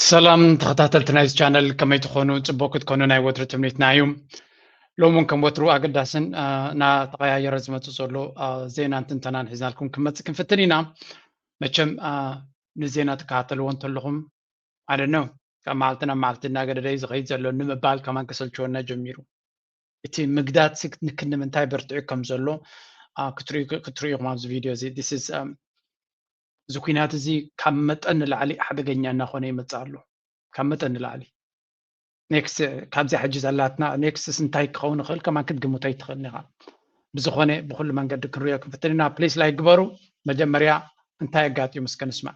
ሰላም ተኸታተልቲ ናይዚ ቻነል ከመይ ትኾኑ ፅቡቅ ክትኮኑ ናይ ወትሪ ትምኒትና እዩ ሎሚ እውን ከም ወትሩ ኣገዳስን እናተቀያየረ ዝመፅ ዘሎ ዜናን ትንተናን ሒዝናልኩም ክንመፅእ ክንፍትን ኢና መቸም ንዜና ትከታተልዎ እንተለኹም ኣይ ዶንት ኖው ካብ መዓልቲ ናብ መዓልቲ እናገደደ እዩ ዝኸይድ ዘሎ ንምባል ከማን ከሰልችወና ጀሚሩ እቲ ምግዳት ክንዲ ምንታይ በርትዑ ከም ዘሎ ክትሪኡ ኢኹም ኣብዚ ቪድዮ እዚ um, እዚ ኩናት እዚ ካብ መጠን ንላዕሊ ሓደገኛ እናኾነ ይመፅእ ኣሎ ካብ መጠን ንላዕሊ ኔክስት ካብዚ ሕጂ ዘላትና ኔክስትስ እንታይ ክኸውን ይኽእል ከማን ክትግምቶ ኣይትኽእልን ኢኻ ብዝኾነ ብኩሉ መንገዲ ክንሪኦ ክንፍትን ኢና ፕሊስ ላይ ግበሩ መጀመርያ እንታይ ኣጋጢሙ እስከ ንስማዕ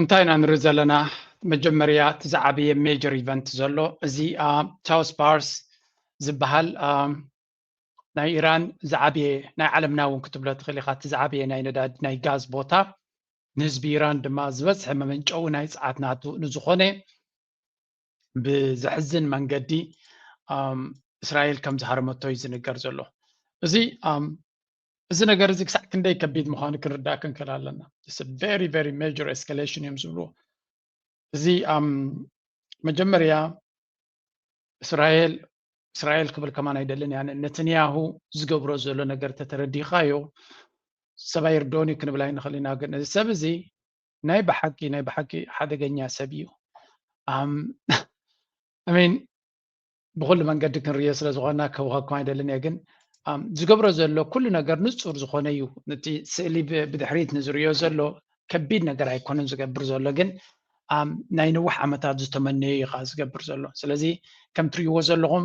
እንታይ ኢና ንርኢ ዘለና መጀመርያ እቲ ዝዓበየ ሜጀር ኢቨንት ዘሎ እዚ ቻውስ ባርስ ዝበሃል ናይ ኢራን ዝዓበየ ናይ ዓለምና እውን ክትብሎ ትኽእል ኢኻ እቲ ዝዓበየ ናይ ነዳድ ናይ ጋዝ ቦታ ንህዝቢ ኢራን ድማ ዝበዝሐ መመንጨዊ ናይ ፀዓት ናቱ ንዝኾነ ብዘሕዝን መንገዲ እስራኤል ከም ዝሃረመቶ እዩ ዝንገር ዘሎ እዚ እዚ ነገር እዚ ክሳዕ ክንደይ ከቢድ ምዃኑ ክንርዳእ ክንክእል ኣለና ቨሪ ቨሪ ሜጀር ኤስካሌሽን እዮም ዝብልዎ እዚ መጀመርያ እስራኤል እስራኤል ክብል ከማን ኣይደልን እያ ነትንያሁ ዝገብሮ ዘሎ ነገር ተተረዲኻዮ ሰብኣይ ርዶኒ ክንብል ኣይንኽእል ኢና ግን እዚ ሰብ እዚ ናይ ብሓቂ ናይ ብሓቂ ሓደገኛ ሰብ እዩ ሚን ብኩሉ መንገዲ ክንሪኦ ስለ ዝኾና ከውኸኩም ኣይደልን እየ ግን ዝገብሮ ዘሎ ኩሉ ነገር ንፁር ዝኾነ እዩ ነቲ ስእሊ ብድሕሪት ንዝሪዮ ዘሎ ከቢድ ነገር ኣይኮነን ዝገብር ዘሎ ግን ናይ ነዊሕ ዓመታት ዝተመነዩ እዩ ከዓ ዝገብር ዘሎ ስለዚ ከም ትሪእዎ ዘለኹም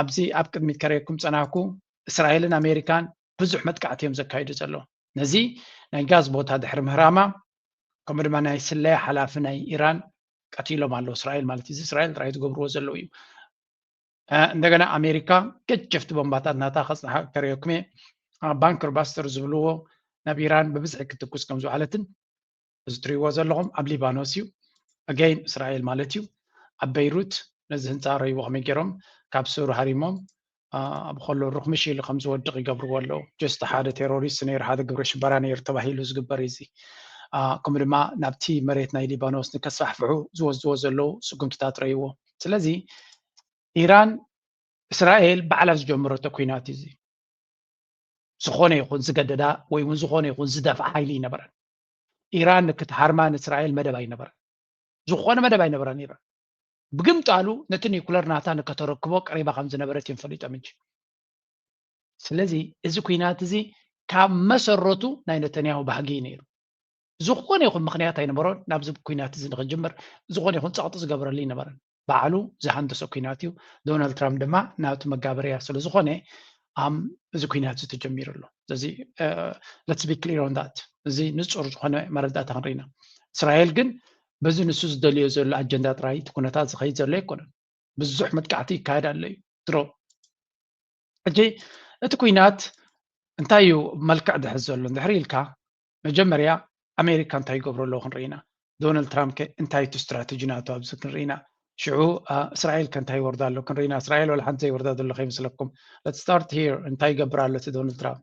ኣብዚ ኣብ ቅድሚት ከረየኩም ፀናኩ እስራኤልን ኣሜሪካን ብዙሕ መጥቃዕቲ እዮም ዘካይዱ ዘሎ ነዚ ናይ ጋዝ ቦታ ድሕሪ ምህራማ ከምኡ ድማ ናይ ስለያ ሓላፊ ናይ ኢራን ቀቲሎም ኣለዉ እስራኤል ማለት እዚ እስራኤል ጥራይ ዝገብርዎ ዘለዉ እዩ እንደገና ኣሜሪካ ገጀፍቲ ቦምባታት ናታ ከፅንሓ ከረየኩም እየ ባንክር ባስተር ዝብልዎ ናብ ኢራን ብብዝሒ ክትኩስ ከም ዝውዓለትን እዚ ትሪእዎ ዘለኹም ኣብ ሊባኖስ እዩ ኣገይን እስራኤል ማለት እዩ ኣብ በይሩት ነዚ ህንፃ ረይዎ ከመይ ገይሮም ካብ ሱር ሃሪሞም ኣብ ከሎ ሩክምሽ ኢሉ ከም ዝወድቕ ይገብርዎ ኣለዉ ጀስቲ ሓደ ቴሮሪስት ነይሩ ሓደ ግብረ ሽበራ ነይሩ ተባሂሉ ዝግበር እዚ ከምኡ ድማ ናብቲ መሬት ናይ ሊባኖስ ንከስፋሕፍሑ ዝወስድዎ ዘለዉ ስጉምትታት ረይዎ ስለዚ ኢራን እስራኤል ባዕላ ዝጀመረቶ ኩናት እዚ ዝኾነ ይኹን ዝገደዳ ወይ እውን ዝኾነ ይኹን ዝደፍዓ ሓይሊ ይነበረን ኢራን ክትሃርማ ንእስራኤል መደብ ኣይነበረን ዝኾነ መደብ ኣይነበረን ኢራን ብግምጣሉ ነቲ ኒኩለር ናታ ንከተረክቦ ቀሪባ ከም ዝነበረት እዮም ፈሊጦም እንጂ ስለዚ እዚ ኩናት እዚ ካብ መሰረቱ ናይ ነተንያሁ ባህጊ እዩ ነይሩ ዝኾነ ይኹን ምክንያት ኣይነበሮን ናብዚ ኩናት እዚ ንክጅምር ዝኾነ ይኹን ፀቕጢ ዝገበረሉ ይነበረን ባዕሉ ዝሃንደሶ ኩናት እዩ ዶናልድ ትራምፕ ድማ ናብቲ መጋበርያ ስለ ዝኾነ እዚ ኩናት እዚ ተጀሚሩ ኣሎ ስለዚ ለትስ ቢ ክሊር ኦን ዳት እዚ ንፁር ዝኾነ መረዳእታ ክንርኢና እስራኤል ግን በዚ ንሱ ዝደልዮ ዘሎ ኣጀንዳ ጥራይ እቲ ኩነታት ዝኸይድ ዘሎ ኣይኮነን። ብዙሕ መጥቃዕቲ ይካየድ ኣሎ እዩ ድሮ። ሕጂ እቲ ኩናት እንታይ እዩ መልክዕ ዝሕዝ ዘሎ እንድሕር ኢልካ መጀመርያ ኣሜሪካ እንታይ ይገብሩ ኣለዉ ክንርኢ ኢና። ዶናልድ ትራምፕ ከ እንታይ እቲ ስትራተጂ ናቱ ኣብዚ ክንርኢ ኢና። ሽዑ እስራኤል ከ እንታይ ይወርዳ ኣሎ ክንርኢ ኢና። እስራኤል ዋላ ሓንቲ ዘይወርዳ ዘሎ ከይመስለኩም። ለት ስታርት ሂር እንታይ ይገብር ኣሎ እቲ ዶናልድ ትራምፕ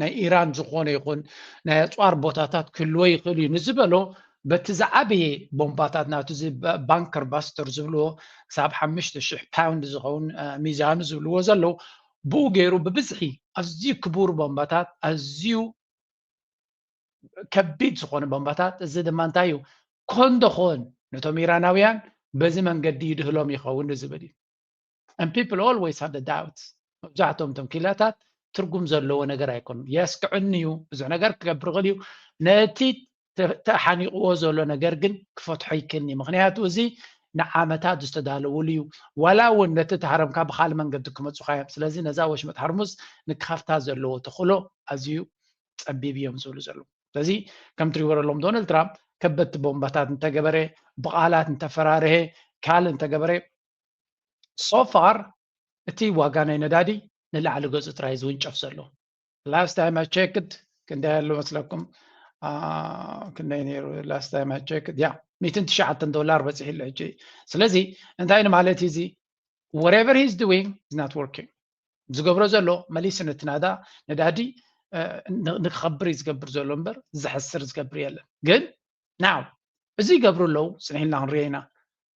ናይ ኢራን ዝኾነ ይኹን ናይ ኣፅዋር ቦታታት ክህልዎ ይኽእል እዩ ንዝበሎ በቲ ዝዓበየ ቦምባታት ናቱ ባንከር ባስተር ዝብልዎ ክሳብ ሓሙሽተ ሽሕ ፓውንድ ዝኸውን ሚዛኑ ዝብልዎ ዘለዉ ብኡ ገይሩ ብብዝሒ ኣዝዩ ክቡር ቦምባታት ኣዝዩ ከቢድ ዝኾነ ቦምባታት እዚ ድማ እንታይ እዩ ኮንዶኾን ነቶም ኢራናውያን በዚ መንገዲ ይድህሎም ይኸውን ዝብል እዩ and people always have the doubts መብዛሕትኦም እቶም ኪላታት ትርጉም ዘለዎ ነገር ኣይኮኑ የስክዕኒ እዩ ብዙሕ ነገር ክገብር ይኽእል እዩ ነቲ ተሓኒቕዎ ዘሎ ነገር ግን ክፈትሖ ይክኒ ምክንያቱ እዚ ንዓመታት ዝተዳለውሉ እዩ ዋላ እውን ነቲ ተሃረምካ ብካልእ መንገዲ ክመፁካ እዮም ስለዚ ነዛ ወሽመጥ ሃርሙዝ ንክኸፍታ ዘለዎ ተኽእሎ ኣዝዩ ፀቢብ እዮም ዝብሉ ዘሉ ስለዚ ከም ትሪእዎ ዘለዎም ዶናልድ ትራምፕ ከበድቲ ቦምባታት እንተገበረ ብቃላት እንተፈራርሀ ካልእ እንተገበረ ሶፋር እቲ ዋጋ ናይ ነዳዲ ንላዕሊ ገጹ ጥራይ ዝውንጨፍ ዘሎ ላስት ታይም ኣይ ቸክድ ክንደይ ኣሎ መስለኩም ክንደይ ነይሩ ላስት ታይም ኣይ ቸክድ ያ ሚትን ትሽዓተ ዶላር በፂሑ ኣሎ ሕጂ ስለዚ እንታይ ንማለት እዩ እዚ ወሬቨር ሂዝ ዱዊንግ ኢዝ ናት ወርኪንግ ዝገብሮ ዘሎ መሊሱ ነቲ ናዳ ነዳዲ ንክኸብር እዩ ዝገብር ዘሎ እምበር ዘሕስር ዝገብር የለን ግን ናው እዚ ይገብሩ ኣለዉ ፅኒሕልና ክንሪኦ ኢና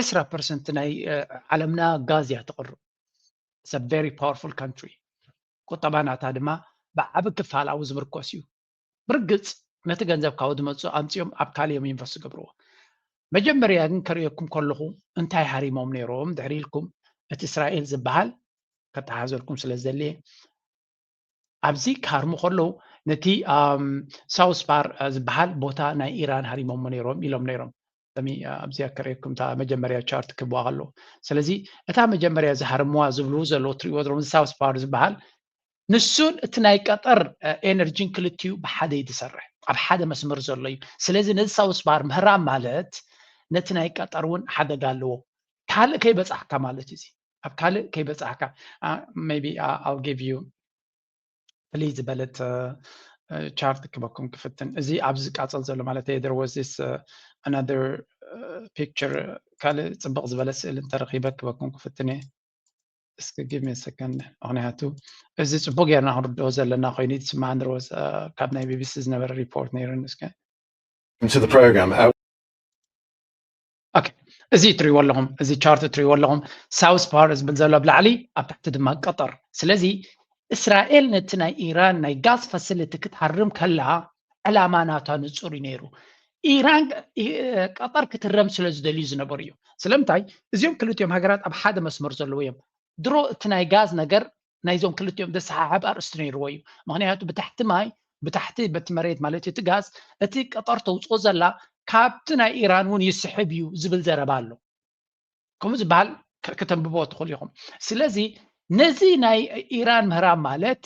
ዕስራ ፐርሰንት ናይ ዓለምና ጋዝ እያ ተቕርብ ሰብ ቨሪ ፓወርፉል ካንትሪ ቁጠባ ናታ ድማ ብዓቢ ክፋል ኣብኡ ዝምርኮስ እዩ ብርግጽ ነቲ ገንዘብ ካብኡ ዝመጽኡ ኣምጺኦም ኣብ ካልእ እዮም ኢንቨስት ዝገብርዎ መጀመርያ ግን ከርእየኩም ከለኹ እንታይ ሃሪሞም ነይሮም ድሕሪ ኢልኩም እቲ እስራኤል ዝበሃል ከተሓዘልኩም ስለ ዘድልየ ኣብዚ ክሃርሙ ከለዉ ነቲ ሳውስፓር ዝበሃል ቦታ ናይ ኢራን ሃሪሞሞ ነይሮም ኢሎም ነይሮም ኣብዚ ኣከረየኩም እታ መጀመርያ ቻርት ክብዋ ከለዉ ስለዚ እታ መጀመርያ ዝሃርምዋ ዝብሉ ዘለዉ ትሪእዎ ዘለኹም ሳውስፓር ዝበሃል ንሱን እቲ ናይ ቀጠር ኤነርጂን ክልቲኡ ብሓደ እዩ ዝሰርሕ ኣብ ሓደ መስመር ዘሎ እዩ ስለዚ ነዚ ሳውስፓር ምህራም ማለት ነቲ ናይ ቀጠር እውን ሓደጋ ኣለዎ ካልእ ከይበፃሕካ ማለት እዩ ኣብ ካልእ ከይበፃሕካ ቢ ኣው ጊቭ ዩ ፍልይ ዝበለት ቻርት ክበኩም ክፍትን እዚ ኣብዚ ዝቃፀል ዘሎ ማለት ዩ ዜር ዋዝ ዚስ ኣናዘር ፒክቸር ካልእ ፅብቕ ዝበለ ስእሊ እንተረኺበ ክበኩም ክፍትን እየ እስኪ ጊቭ ሚ ሰከንድ ምክንያቱ እዚ ፅቡቅ ጌርና ክንርድኦ ዘለና ኮይኑ ይስማዓኒ ሮዝ ካብ ናይ ቢቢሲ ዝነበረ ሪፖርት ነይሩ ንስከ ኦኬ እዚ እትሪእዎ ኣለኹም እዚ ቻርት እትሪእዎ ኣለኹም ሳውስ ፓወር ዝብል ዘሎ ኣብ ላዕሊ ኣብ ታሕቲ ድማ ቀጠር ስለዚ እስራኤል ነቲ ናይ ኢራን ናይ ጋዝ ፋሲሊቲ ክትሃርም ከላ ዕላማ ናታ ንፁር እዩ ነይሩ ኢራን ቀጠር ክትረም ስለ ዝደልዩ ዝነበሩ እዩ ስለምንታይ እዚኦም ክልቲኦም ሃገራት ኣብ ሓደ መስመር ዘለዎ እዮም ድሮ እቲ ናይ ጋዝ ነገር ናይዞም ክልቲኦም ዘሰሓሕብ ኣርእስቲ ነይርዎ እዩ ምክንያቱ ብታሕቲ ማይ ብታሕቲ በቲ መሬት ማለት እቲ ጋዝ እቲ ቀጠር ተውፅኦ ዘላ ካብቲ ናይ ኢራን እውን ይስሕብ እዩ ዝብል ዘረባ ኣሎ ከምኡ ዝበሃል ከተንብቦ ትኽእሉ ኢኹም ስለዚ ነዚ ናይ ኢራን ምህራም ማለት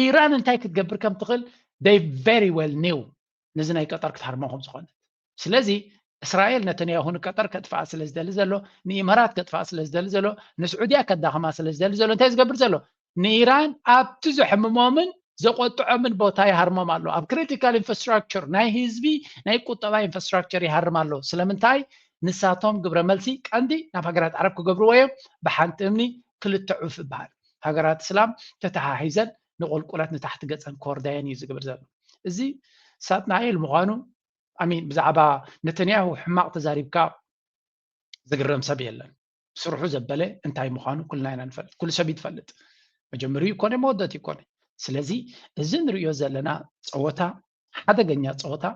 ኢራን እንታይ ክትገብር ከም ትኽእል ይ ቨሪ ዌል ኒው ነዚ ናይ ቀጠር ክትሃርሞ ከም ዝኾነት ስለዚ እስራኤል ነተንያሁ ንቀጠር ከጥፍኣ ስለ ዝደሊ ዘሎ ንኢማራት ከጥፍኣ ስለ ዝደሊ ዘሎ ንስዑድያ ከዳኸማ ስለ ዝደሊ ዘሎ እንታይ ዝገብር ዘሎ ንኢራን ኣብቲ ዘሕምሞምን ዘቆጥዖምን ቦታ ይሃርሞም ኣሎ ኣብ ክሪቲካል ኢንፍራስትራክቸር ናይ ህዝቢ ናይ ቁጠባ ኢንፍራስትራክቸር ይሃርም ኣሎ ስለምንታይ ንሳቶም ግብረ መልሲ ቀንዲ ናብ ሃገራት ዓረብ ክገብርዎ እዮም ብሓንቲ እምኒ ክልተ ዑፍ ይበሃል ሃገራት እስላም ተተሓሒዘን ንቁልቁለት ንታሕቲ ገፀን ክወርዳየን እዩ ዝግብር ዘሎ እዚ ሳጥናኤል ምዃኑ ኣሚን ብዛዕባ ነተንያሁ ሕማቕ ተዛሪብካ ዝግረም ሰብ የለን ስርሑ ዘበለ እንታይ ምዃኑ ኩልና ኢና ንፈልጥ ኩሉ ሰብ ይትፈልጥ መጀመሪ ይኮነ መወደት ይኮነ ስለዚ እዚ ንሪዮ ዘለና ፀወታ ሓደገኛ ፀወታ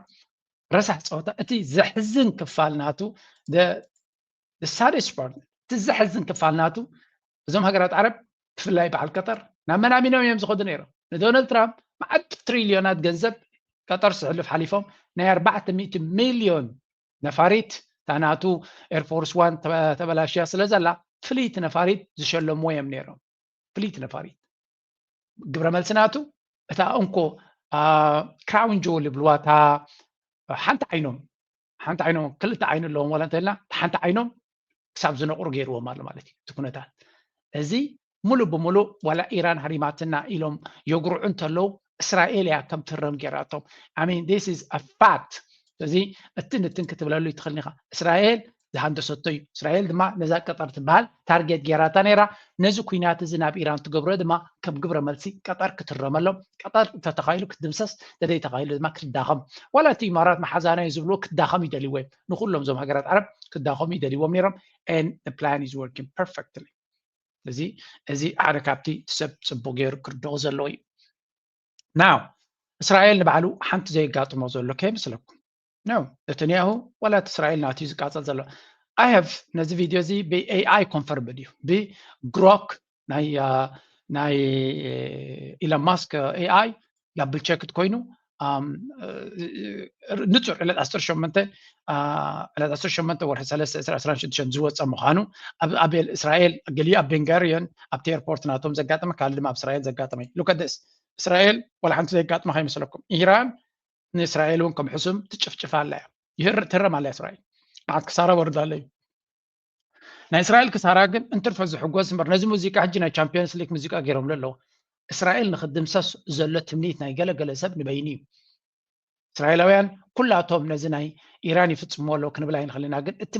ረሳሕ ፀወታ እቲ ዘሕዝን ክፋል ናቱ ሳደስ ፓርት እቲ ዘሕዝን ክፋል ናቱ እዞም ሃገራት ዓረብ ብፍላይ በዓል ቀጠር ናብ መን ኣሚኖም እዮም ዝኸዱ ነይሮም ንዶናልድ ትራምፕ መዓት ትሪልዮናት ገንዘብ ቀጠር ስሕልፍ ሓሊፎም ናይ ኣርባዕተ ሚእቲ ሚልዮን ነፋሪት እታ ናቱ ኤርፎርስ ዋን ተበላሽያ ስለ ዘላ ፍልይቲ ነፋሪት ዝሸለምዎ እዮም ነይሮም ፍልይቲ ነፋሪት ግብረ መልሲ ናቱ እታ እንኮ ክራውን ጆል ይብልዋ እታ ሓንቲ ዓይኖም ሓንቲ ዓይኖም ክልተ ዓይኒ ኣለዎም ዋላ እንተልና እቲ ሓንቲ ዓይኖም ክሳብ ዝነቕሩ ገይርዎም ኣሎ ማለት እዩ እቲ ኩነታት እዚ ሙሉእ ብሙሉእ ዋላ ኢራን ሃሪማትና ኢሎም የጉርዑ እንተለዉ እስራኤል እያ ከም ትህረም ገይራቶም ኣሚን ዲስ ኢዝ ኣ ፋክት ስለዚ እትን እትን ክትብለሉ ይትኽእል ኢኻ እስራኤል ዝሃንደሰቶ እዩ እስራኤል ድማ ነዛ ቀጠር ትበሃል ታርጌት ጌራታ ነይራ። ነዚ ኲናት እዚ ናብ ኢራን ትገብሮ ድማ ከም ግብረ መልሲ ቀጠር ክትረመሎም፣ ቀጠር እንተተኻኢሉ ክትድምሰስ፣ እንተዘይተኻኢሉ ድማ ክትዳኸም፣ ዋላ እቲ ኢማራት መሓዛናዮ ዝብልዎ ክትዳኸም ይደልይዎ እዮም። ንኹሎም እዞም ሃገራት ዓረብ ክዳኸሙ ይደልይዎም ነይሮም and the plan is working perfectly። እዚ እዚ ሓደ ካብቲ ሰብ ጽቡቕ ገይሩ ክርድኦ ዘለዎ እዩ። ናው እስራኤል ንባዕሉ ሓንቲ ዘየጋጥሞ ዘሎ ከይመስለኩም ኖ ነተንያሁ ዋላ እቲ እስራኤል ናት እዩ ዝቃፀል ዘሎ ኣይ ሃቭ ነዚ ቪድዮ እዚ ብኤኣይ ኮንፈርምድ እዩ ብግሮክ ናይ ናይ ኢሎን ማስክ ኤኣይ ዳብል ቸክድ ኮይኑ ንፁር ዕለት ዓሰርተ ሸሞንተ ዕለት ዓሰርተ ሸሞንተ ወርሒ ሰለስተ ዕስራ ዕስራን ሽዱሽተን ዝወፀ ምዃኑ ኣብ እስራኤል ገሊኡ ኣብ ቤንጋሪዮን ኣብቲ ኤርፖርት ናቶም ዘጋጠመ ካልእ ድማ ኣብ እስራኤል ዘጋጠመ እዩ ሉከደስ እስራኤል ዋላ ሓንቲ ዘጋጥማ ከይመስለኩም ኢራን ንእስራኤል እውን ከም ሕሱም ትጭፍጭፍ ኣላ እያ ይህር ትህረም ኣላ እስራኤል መዓት ክሳራ ወርዶ ኣሎ እዩ ናይ እስራኤል ክሳራ ግን እንትርፈ ዝሕጎስ እምበር ነዚ ሙዚቃ ሕጂ ናይ ቻምፒዮንስ ሊግ ሙዚቃ ገይሮምሉ ኣለዉ እስራኤል ንክድምሰስ ዘሎ ትምኒት ናይ ገለገለ ሰብ ንበይኑ እዩ እስራኤላውያን ኩላቶም ነዚ ናይ ኢራን ይፍፅሞ ኣሎ ክንብል ኣይንኽእል ኢና ግን እቲ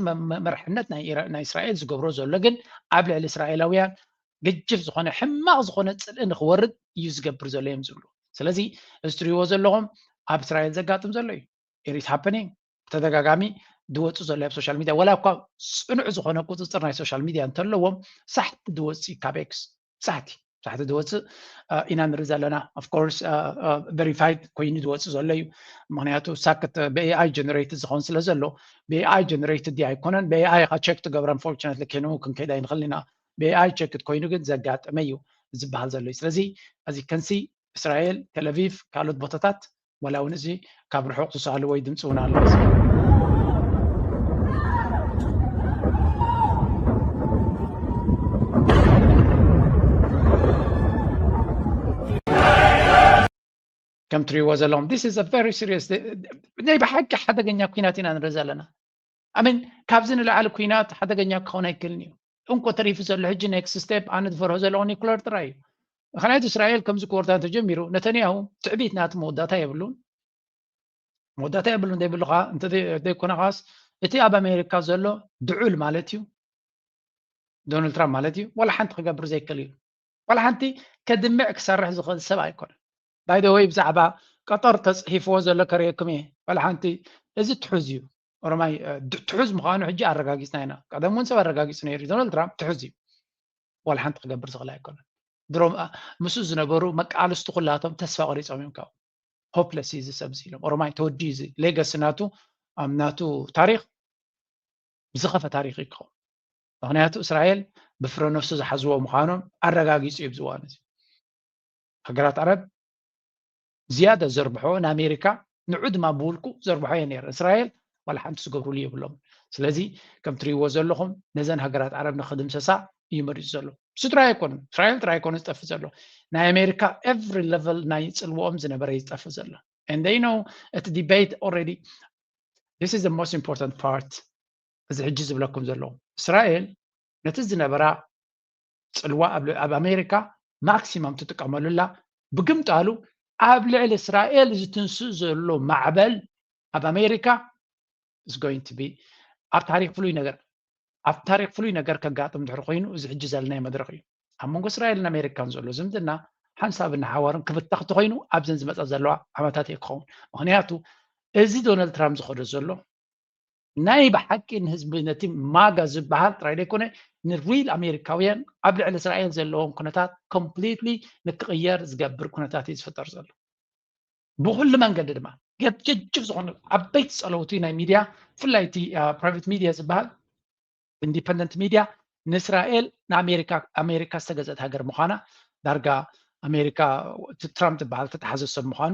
መርሕነት ናይ እስራኤል ዝገብሮ ዘሎ ግን ኣብ ልዕሊ እስራኤላውያን ገጅፍ ዝኾነ ሕማቕ ዝኾነ ጽልኢ ንክወርድ እዩ ዝገብር ዘሎ እዮም ዝብሉ ስለዚ እዚ ትሪእዎ ዘለኹም ኣብ እስራኤል ዘጋጥም ዘሎ እዩ ኢሪት ሃፐኒንግ ብተደጋጋሚ ዝወፅእ ዘሎ ኣብ ሶሻል ሚድያ ወላ እኳ ፅኑዕ ዝኾነ ቁፅፅር ናይ ሶሻል ሚድያ እንተለዎም ሳሕቲ ዝወፅእ ካብ ኤክስ ሳሕቲ ሳሕቲ ዝወፅእ ኢና ንርኢ ዘለና ኣፍኮርስ ቨሪፋይድ ኮይኑ ዝወፅእ ዘሎ እዩ ምክንያቱ ሳክት ብኤኣይ ጀነሬትድ ዝኸውን ስለ ዘሎ ብኤኣይ ጀነሬትድ ዲ ኣይኮነን ብኤኣይ ኢካ ቸክ ትገብረን ፎርቹነትሊ ኬኑ ክንከይድ ኣይንኽእል ኢና ብኤኣይ ቸክድ ኮይኑ ግን ዘጋጠመ እዩ ዝብሃል ዘሎ እዩ ስለዚ እዚ ከንሲ እስራኤል ተለቪቭ ካልኦት ቦታታት ዋላ እውን እዚ ካብ ርሑቕ ዝሰኣሉ ወይ ድምፂ እውን ኣሎ ከም ትሪእዎ ዘለኹም ዲስ ኢዝ ቨሪ ሲሪየስ ናይ ብሓቂ ሓደገኛ ኩናት ኢና ንርኢ ዘለና ኣሜን ካብዚ ንላዕሊ ኩናት ሓደገኛ ክኸውን ኣይክእልን እዩ እንኮ ተሪፉ ዘሎ ሕጂ ኔክስት ስቴፕ ኣነ ዝፈርሆ ዘለኹ ኒኩለር ጥራይ እዩ ምክንያቱ እስራኤል ከምዚ ክወርታ እንተጀሚሩ ነተንያሁ ትዕቢት ናቲ መወዳእታ የብሉን መወዳእታ የብሉን ዘይብልካ እንተዘይኮነ ከዓስ እቲ ኣብ ኣሜሪካ ዘሎ ድዑል ማለት እዩ ዶናልድ ትራምፕ ማለት እዩ ዋላ ሓንቲ ክገብር ዘይክእል እዩ ዋላ ሓንቲ ከድምዕ ክሰርሕ ዝኽእል ሰብ ኣይኮነን ባይ ዘ ወይ ብዛዕባ ቀጠር ተጽሒፍዎ ዘሎ ከርእየኩም እየ ዋላ ሓንቲ እዚ ትሑዝ እዩ ኦሮማይ ትሑዝ ምዃኑ ሕጂ ኣረጋጊጽና ኢና ቀደም እውን ሰብ ኣረጋጊጹ ነይሩ እዩ ዶናልድ ትራምፕ ትሑዝ እዩ ዋላ ሓንቲ ክገብር ዝኽእል ኣይኮነን ድሮ ምስኡ ዝነበሩ መቃልስቲ ኩላቶም ተስፋ ቆሪፆም እዮም ካብኡ ሆፕለስ እዩ እዚ ሰብ እዚ ኢሎም ኦሮማይ ተወዲ እዚ ሌገሲ ናቱ ኣብ ናቱ ታሪክ ዝኸፈ ታሪክ እዩ ክኸውን ምክንያቱ እስራኤል ብፍረ ነፍሱ ዝሓዝዎ ምዃኖም ኣረጋጊፁ እዩ ዝዋን እዚ ሃገራት ዓረብ ዝያዳ ዘርብሐኦ ንኣሜሪካ ንዑ ድማ ብውልቁ ዘርብሖ እየ ነይረ እስራኤል ዋላ ሓንቲ ዝገብርሉ የብሎም ስለዚ ከም ትሪእዎ ዘለኹም ነዘን ሃገራት ዓረብ ንክድምሰሳ እዩ መሪፁ ዘሎ እሱ ጥራይ ኣይኮነ እስራኤል ጥራይ ኣይኮነ ዝጠፍእ ዘሎ ናይ ኣሜሪካ ኤቭሪ ለቨል ናይ ፅልዎኦም ዝነበረ እዩ ዝጠፍእ ዘሎ and they know እቲ ዲቤት ኦልሬዲ this is the most important part እዚ ሕጂ ዝብለኩም ዘለኹ እስራኤል ነቲ ዝነበራ ጽልዋ ኣብ ኣሜሪካ ማክሲማም ትጥቀመሉላ ብግምጣሉ ኣብ ልዕሊ እስራኤል ዝትንስእ ዘሎ ማዕበል ኣብ ኣሜሪካ is going to be ኣብ ታሪክ ፍሉይ ነገር ኣብ ታሪክ ፍሉይ ነገር ከጋጥም ድሕሪ ኮይኑ እዚ ሕጂ ዘለናዮ መድረክ እዩ ኣብ መንጎ እስራኤልን ኣሜሪካን ዘሎ ዝምድና ሓንሳብን ሓዋርን ክብተኽ እንተኮይኑ ኣብዘን ዝመፃ ዘለዋ ዓመታት እየ ክኸውን ምክንያቱ እዚ ዶናልድ ትራምፕ ዝኸዶ ዘሎ ናይ ብሓቂ ንህዝቢ ነቲ ማጋ ዝበሃል ጥራይ ዘይኮነ ንሪል ኣሜሪካውያን ኣብ ልዕሊ እስራኤል ዘለዎም ኩነታት ኮምፕሊትሊ ንክቕየር ዝገብር ኩነታት እዩ ዝፍጠር ዘሎ ብኩሉ መንገዲ ድማ ገጀጅብ ዝኾኑ ዓበይቲ ፀለውቲ ናይ ሚድያ ብፍላይ እቲ ፕራይቬት ሚድያ ዝበሃል ኢንዲፐንደንት ሚድያ ንእስራኤል ንኣሜሪካ ኣሜሪካ ዝተገዘት ሃገር ምዃና ዳርጋ ኣሜሪካ ትራምፕ ዝበሃል ተተሓዘ ሰብ ምዃኑ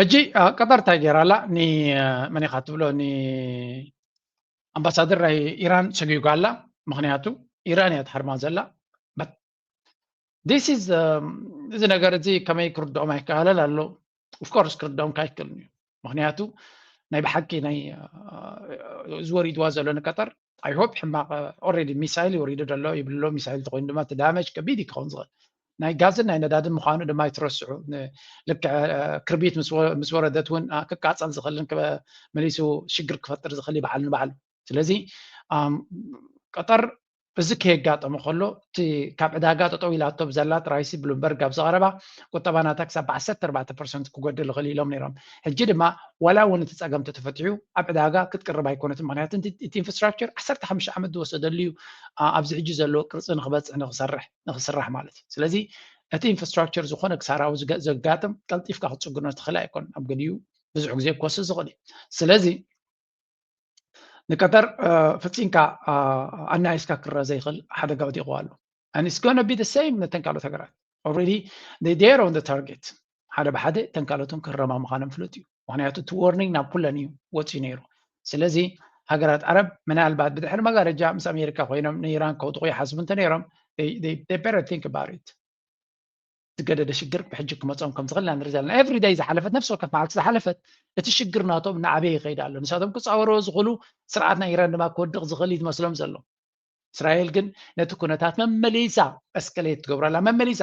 ሕጂ ቀጠር እንታይ ገይራ ኣላ ንመን ኢኻ ትብሎ ንኣምባሳደር ናይ ኢራን ሰጒጓ ኣላ ምክንያቱ ኢራን እያ ትሃርማ ዘላ ዲስ ኢዝ እዚ ነገር እዚ ከመይ ክርድኦም ኣይከኣለን ኣሎ ኦፍኮርስ ክርድኦም ካይክእልን እዩ ምክንያቱ ናይ ብሓቂ ናይ እዚ ወሪድዋ ዘሎ ንቀጠር ኣይሆፕ ሕማቅ ኦረዲ ሚሳይል ይወሪዱ ደሎ ይብልሎ ሚሳይል ተኮይኑ ድማ እቲ ዳመጅ ከቢድ እዩ ክኸውን ዝኽእል ናይ ጋዝን ናይ ነዳድን ምዃኑ ድማ ኣይትረስዑ ልክዕ ክርቢት ምስ ወረደት እውን ክቃፀል ዝኽእልን መሊሱ ሽግር ክፈጥር ዝኽእል ይበዓል ንበዓሉ ስለዚ ቀጠር እዚ ከየጋጠመ ከሎ እቲ ካብ ዕዳጋ ጠጠው ኢላቶ ብዘላ ጥራይሲ ብሉምበርግ ኣብ ዝቐረባ ቁጠባ ናታ ክሳብ ብዓሰርተ ኣርባዕተ ፐርሰንት ክጎድል ይኽእል ኢሎም ነይሮም ሕጂ ድማ ዋላ እውን እቲ ፀገም ተተፈትሑ ኣብ ዕዳጋ ክትቅርብ ኣይኮነትን ምክንያቱ እቲ ኢንፍራስትራክቸር ዓሰርተ ሓሙሽተ ዓመት ዝወሰደሉ እዩ ኣብዚ ሕጂ ዘለዎ ቅርፂ ንክበፅሕ ንክሰርሕ ንክስራሕ ማለት እዩ ስለዚ እቲ ኢንፍራስትራክቸር ዝኾነ ክሳራዊ ዘጋጥም ቀልጢፍካ ክትፅግኖ ትኽእል ኣይኮን ኣብ ገሊኡ ብዙሕ ግዜ ክወስድ ዝኽእል እዩ ስለዚ ንቀጠር ፍፂምካ ኣናይስካ ክረአ ዘይኽእል ሓደጋ ወዲቑ ኣሎ and it's going to be the same ነተን ካልኦት ሃገራት already they dare on the target ሓደ ብሓደ እተን ካልኦትን ክረማ ምዃነን ፍሉጥ እዩ ምክንያቱ እቲ ዎርኒንግ ናብ ኩለን እዩ ወፅዩ ነይሩ ስለዚ ሃገራት ዓረብ ምናልባት ብድሕሪ መጋረጃ ምስ ኣሜሪካ ኮይኖም ንኢራን ከውድቑ ይሓስቡ እንተነይሮም ዝገደደ ሽግር ብሕጂ ክመፆም ከም ዝኽእል ኢና ንርኢ ዘለና ኤቭሪ ዳይ ዝሓለፈት ነፍሲ ወከፍ መዓልቲ ዝሓለፈት እቲ ሽግር ናቶም እናዓበየ ይኸይድ ኣሎ ንሳቶም ክፃወርዎ ዝኽእሉ ስርዓት ናይ ኢራን ድማ ክወድቕ ዝኽእል እዩ ዝመስሎም ዘሎ እስራኤል ግን ነቲ ኩነታት መመሊሳ እስከሌት ትገብሮ ኣላ መመሊሳ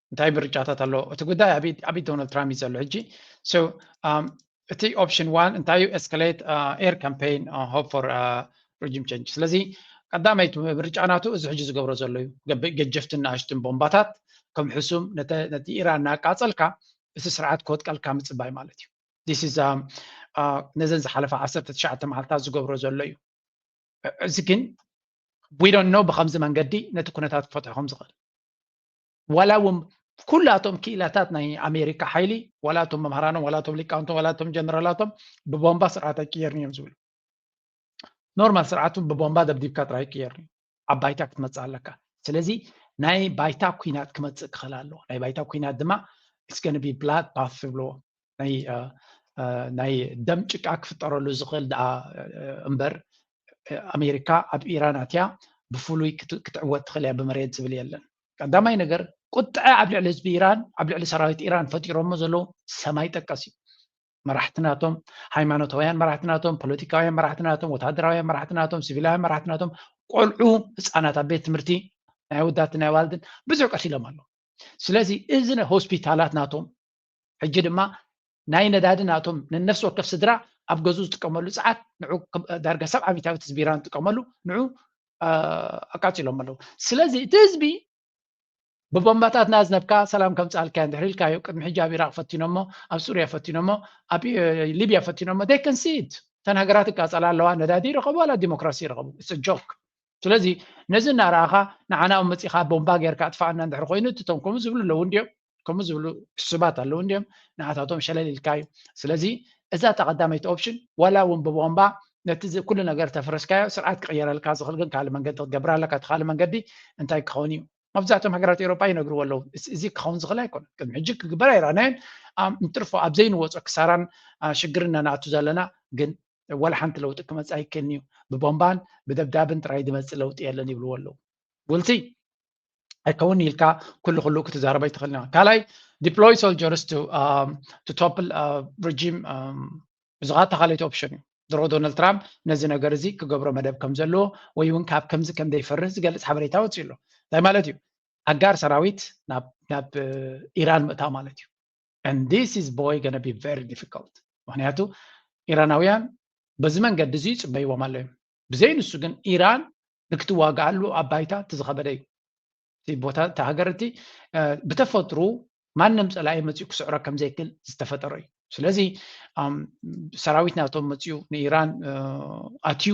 እንታይ ምርጫታት ኣሎ እቲ ጉዳይ ኣብ ኢድ ዶናልድ ትራምፕ እዩ ዘሎ ሕጂ እቲ ኦፕሽን ዋን እንታይ እዩ ኤስካሌት ኤር ካምፔይን ሆፕ ፎር ሪጅም ቸንጅ ስለዚ ቀዳመይቲ ምርጫ ናቱ እዚ ሕጂ ዝገብሮ ዘሎ እዩ ገጀፍትን ንኣሽትን ቦምባታት ከም ሕሱም ነቲ ኢራን እናቃፀልካ እቲ ስርዓት ክወጥቀልካ ምፅባይ ማለት እዩ ዲስ ኢዝ ነዘን ዝሓለፈ ዓሰርተ ትሽዓተ መዓልትታት ዝገብሮ ዘሎ እዩ እዚ ግን ዊዶኖ ብከምዚ መንገዲ ነቲ ኩነታት ክፈትሖ ከም ዝኽእል ዋላ እውን ኩላቶም ክኢላታት ናይ ኣሜሪካ ሓይሊ ዋላ እቶም መምሃራኖም ዋላ እቶም ሊቃውንቶም ዋላ እቶም ጀነራላቶም ብቦምባ ስርዓት ኣይቅየርን እዮም ዝብሉ ኖርማል ስርዓቱ ብቦምባ ደብዲብካ ጥራይ ይቅየርኒ ኣብ ባይታ ክትመፅእ ኣለካ ስለዚ ናይ ባይታ ኩናት ክመፅእ ክኽእል ኣለዎ ናይ ባይታ ኩናት ድማ ስገንቢ ብላድ ፓት ዝብልዎ ናይ ደም ጭቃ ክፍጠረሉ ዝኽእል ድኣ እምበር ኣሜሪካ ኣብ ኢራን ኣትያ ብፍሉይ ክትዕወት ትኽእል እያ ብመሬት ዝብል የለን ቀዳማይ ነገር ቁጥዐ ኣብ ልዕሊ ህዝቢ ኢራን ኣብ ልዕሊ ሰራዊት ኢራን ፈጢሮሞ ዘለዉ ሰማይ ጠቀስ እዩ መራሕቲ ናቶም ሃይማኖታውያን መራሕቲ ናቶም ፖለቲካውያን መራሕቲ ናቶም ወታደራውያን መራሕቲ ናቶም ሲቪላውያን መራሕቲ ናቶም ቆልዑ ህፃናት ኣብ ቤት ትምህርቲ ናይ ወዳት ናይ ዋልድን ብዙሕ ቀቲሎም ኣለዉ ስለዚ እዚ ሆስፒታላት ናቶም ሕጂ ድማ ናይ ነዳዲ ናቶም ነነፍሲ ወከፍ ስድራ ኣብ ገዝኡ ዝጥቀመሉ ፀዓት ንዑ ዳርጋ ሰብዓ ሚታዊት ህዝቢ ኢራን ዝጥቀመሉ ንዑ ኣቃፂሎም ኣለዉ ስለዚ እቲ ህዝቢ ብቦምባታት ናዝነብካ ሰላም ከምፃልካዮ እንድሕር ኢልካዮ ቅድሚ ሕጂ ኣብ ኢራቅ ፈቲኖሞ ኣብ ሱርያ ፈቲኖሞ ኣብ ሊብያ ፈቲኖሞ ደይ ከንሲት እተን ሃገራት ይቃፀላ ኣለዋ ነዳዲ ይረኸቡ ዋላ ዲሞክራሲ ይረኸቡ ጆክ ስለዚ ነዚ እናረኣኻ ንዓና ኣብ መፂኻ ቦምባ ጌርካ ኣጥፋኣና እንድሕር ኮይኑ እትቶም ከምኡ ዝብሉ ኣለዉ እንዲዮም ከምኡ ዝብሉ ሕሱባት ኣለዉ እንዲዮም ንኣታቶም ሸለል ኢልካ እዩ ስለዚ እዛ እታ ቀዳመይቲ ኦፕሽን ዋላ እውን ብቦምባ ነቲ ኩሉ ነገር ተፍረስካዮ ስርዓት ክቕየረልካ ዝኽእል ግን ካልእ መንገዲ ክትገብር ኣለካ እቲ ካልእ መንገዲ እንታይ ክኸውን እዩ መብዛሕቶም ሃገራት ኤሮጳ ይነግርዎ ኣለዉ እዚ ክኸውን ዝኽእል ኣይኮነ ቅድሚ ሕጂ ክግበር ኣይረኣናዮን እንትርፎ ኣብ ዘይንወፆ ክሳራን ሽግርን ነናእቱ ዘለና ግን ዋላ ሓንቲ ለውጢ ክመፅ ኣይክእልን እዩ ብቦምባን ብደብዳብን ጥራይ ዝመፅእ ለውጢ የለን ይብልዎ ኣለዉ ጉልቲ ኣይከውን ኢልካ ኩሉ ኩሉ ክትዛረብ ኣይትኽእልና ካልኣይ ዲፕሎይ ሶልጀርስ ቱ ቶፕል ረጂም እዚኻ ተኻለይቲ ኦፕሽን እዩ ድሮ ዶናልድ ትራምፕ ነዚ ነገር እዚ ክገብሮ መደብ ከም ዘለዎ ወይ እውን ካብ ከምዚ ከም ዘይፈርህ ዝገልፅ ሓበሬታ ወፂኡ ኣሎ እንታይ ማለት እዩ ኣጋር ሰራዊት ናብ ኢራን ምእታው ማለት እዩ and this is boy gonna be very difficult ምክንያቱ ኢራናውያን በዚ መንገዲ እዚ ይፅበይዎም ኣሎ እዮም ብዘይ ንሱ ግን ኢራን ንክትዋግኣሉ ኣብ ባይታ እቲ ዝኸበደ እዩ እቲ ቦታ እቲ ሃገር እቲ ብተፈጥሩ ማንም ፀላኢ መፅኡ ክስዕሮ ከም ዘይክእል ዝተፈጠረ እዩ ስለዚ ሰራዊት ናቶም መፅኡ ንኢራን ኣትዩ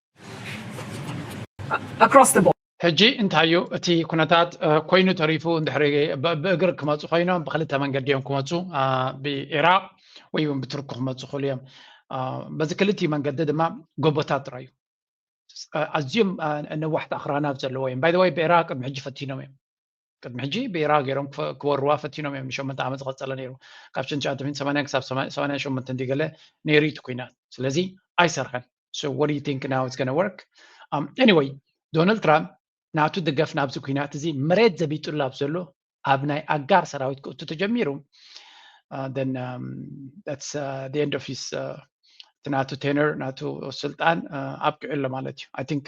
across the board። ሕጂ እንታይ እዩ እቲ ኩነታት ኮይኑ ተሪፉ እንድሕሪ ብእግሪ ክመፁ ኮይኖም ብክልተ መንገዲ እዮም ክመፁ ብኢራቅ ወይ እውን ብቱርኪ ክመፁ ክእሉ እዮም በዚ ክልቲኡ መንገዲ ድማ ጎቦታት ጥራይ እዩ ኣዝዮም ነዋሕቲ ኣኽራናት ዘለዎ እዮም ባይ ወይ ብኢራቅ ቅድሚ ሕጂ ፈቲኖም እዮም ቅድሚ ሕጂ ብኤራ ገይሮም ክወርዋ ፈቲኖም እዮም ንሸመንተ ዓመት ዝቐፀለ ነይሩ ካብ ሽን ትሽዓተ ሚእቲ ሰማንያን ክሳብ ሰማንያን ሸሞንተ እንዲ ገለ ነይሩ እዩ እቲ ኩናት ስለዚ ኣይሰርሐን so what do you think now it's gonna work um, anyway ዶናልድ ትራምፕ ናቱ ድገፍ ናብዚ ኩናት እዚ መሬት ዘቢጡሉ ኣብ ዘሎ ኣብ ናይ ኣጋር ሰራዊት ክእቱ ተጀሚሩ uh, then um, that's uh, the end of his uh, ናቱ ቴነር ናቱ ስልጣን uh, ኣብቂዑ ኣሎ ማለት እዩ ኣይ ቲንክ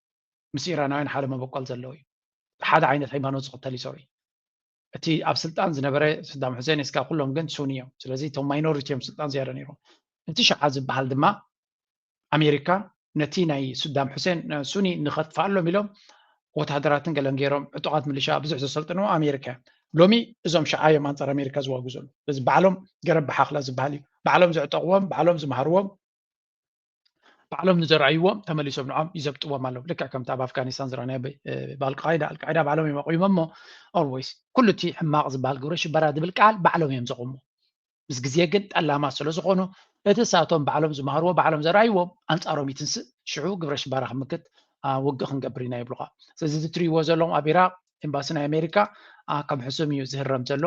ምስ ኢራናውያን ሓደ መበቆል ዘለዎ እዩ። ሓደ ዓይነት ሃይማኖት ዝኽተል እዩ ሶሪ እቲ ኣብ ስልጣን ዝነበረ ስዳም ሑሴን እስካ ኩሎም ግን ሱኒ እዮም ስለዚ እቶም ማይኖሪቲ እዮም ስልጣን ዝያዳ ነይሮም እቲ ሸዓ ዝበሃል ድማ ኣሜሪካ ነቲ ናይ ስዳም ሑሴን ሱኒ ንኸጥፍኣሎም ኢሎም ወተሃደራትን ገለን ገይሮም ዕጡቓት ምልሻ ብዙሕ ዘሰልጥንዎ ኣሜሪካ እዮም ሎሚ እዞም ሸዓ እዮም ኣንፃር ኣሜሪካ ዝዋጉ ዘሎ እዚ ባዕሎም ገረብ ብሓኽላ ዝበሃል እዩ ባዕሎም ዘዕጠቕዎም ባዕሎም ዝመሃርዎም ባዕሎም ንዘርኣይዎም ተመሊሶም ንዖም ይዘብጥዎም ኣለዉ ልክዕ ከምቲ ኣብ ኣፍጋኒስታን ዝረኣናዮ ብኣልቃይዳ ኣልቃይዳ ባዕሎም እዮም ኣቑሞ እሞ ኦልወይስ ኩሉ እቲ ሕማቕ ዝበሃል ግብረ ሽበራ ዝብል ቃል ባዕሎም እዮም ዘቑሞ ምስ ግዜ ግን ጠላማት ስለ ዝኾኑ እቲ ሳቶም ባዕሎም ዝመሃርዎ ባዕሎም ዘርኣይዎም ኣንፃሮም ይትንስእ ሽዑ ግብረ ሽበራ ክምክት ውግእ ክንገብር ኢና ይብሉኻ ስለዚ እዚ ትሪእዎ ዘለኹም ኣብ ኢራቅ ኤምባሲ ናይ ኣሜሪካ ከም ሕሱም እዩ ዝህረም ዘሎ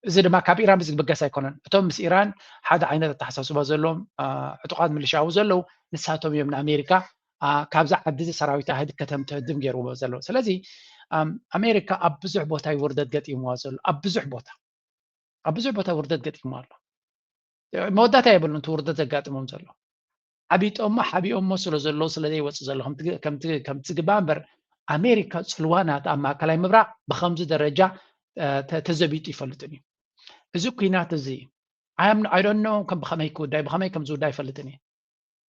እዚ ድማ ካብ ኢራን ብዝብገስ ኣይኮነን እቶም ምስ ኢራን ሓደ ዓይነት ኣተሓሳስባ ዘለዎም ዕጡቃት ምልሻዊ ዘለዉ ንሳቶም እዮም ንኣሜሪካ ካብዚ ዓዲ እዚ ሰራዊት ኣህድ ከተም ትህድም ገይርዎ ዘለዉ ስለዚ ኣሜሪካ ኣብ ብዙሕ ቦታ እዩ ውርደት ገጢምዋ ዘሎ ኣብ ብዙሕ ቦታ ኣብ ብዙሕ ቦታ ውርደት ገጢምዋ ኣሎ መወዳእታ የብሉን እቲ ውርደት ዘጋጥሞም ዘሎ ሓቢጦሞ ሓቢኦሞ ስለ ዘለዉ ስለ ዘይወጽእ ዘሎ ከምቲ ዝግባእ እምበር ኣሜሪካ ጽልዋ ናታ ኣብ ማእከላይ ምብራቕ ብከምዚ ደረጃ ተዘቢጡ ይፈልጥን እዩ እዚ ኩናት እዚ ኣይዶኖ ከም ብኸመይ ክውዳይ ብኸመይ ከም ዝውዳይ ይፈልጥን እዩ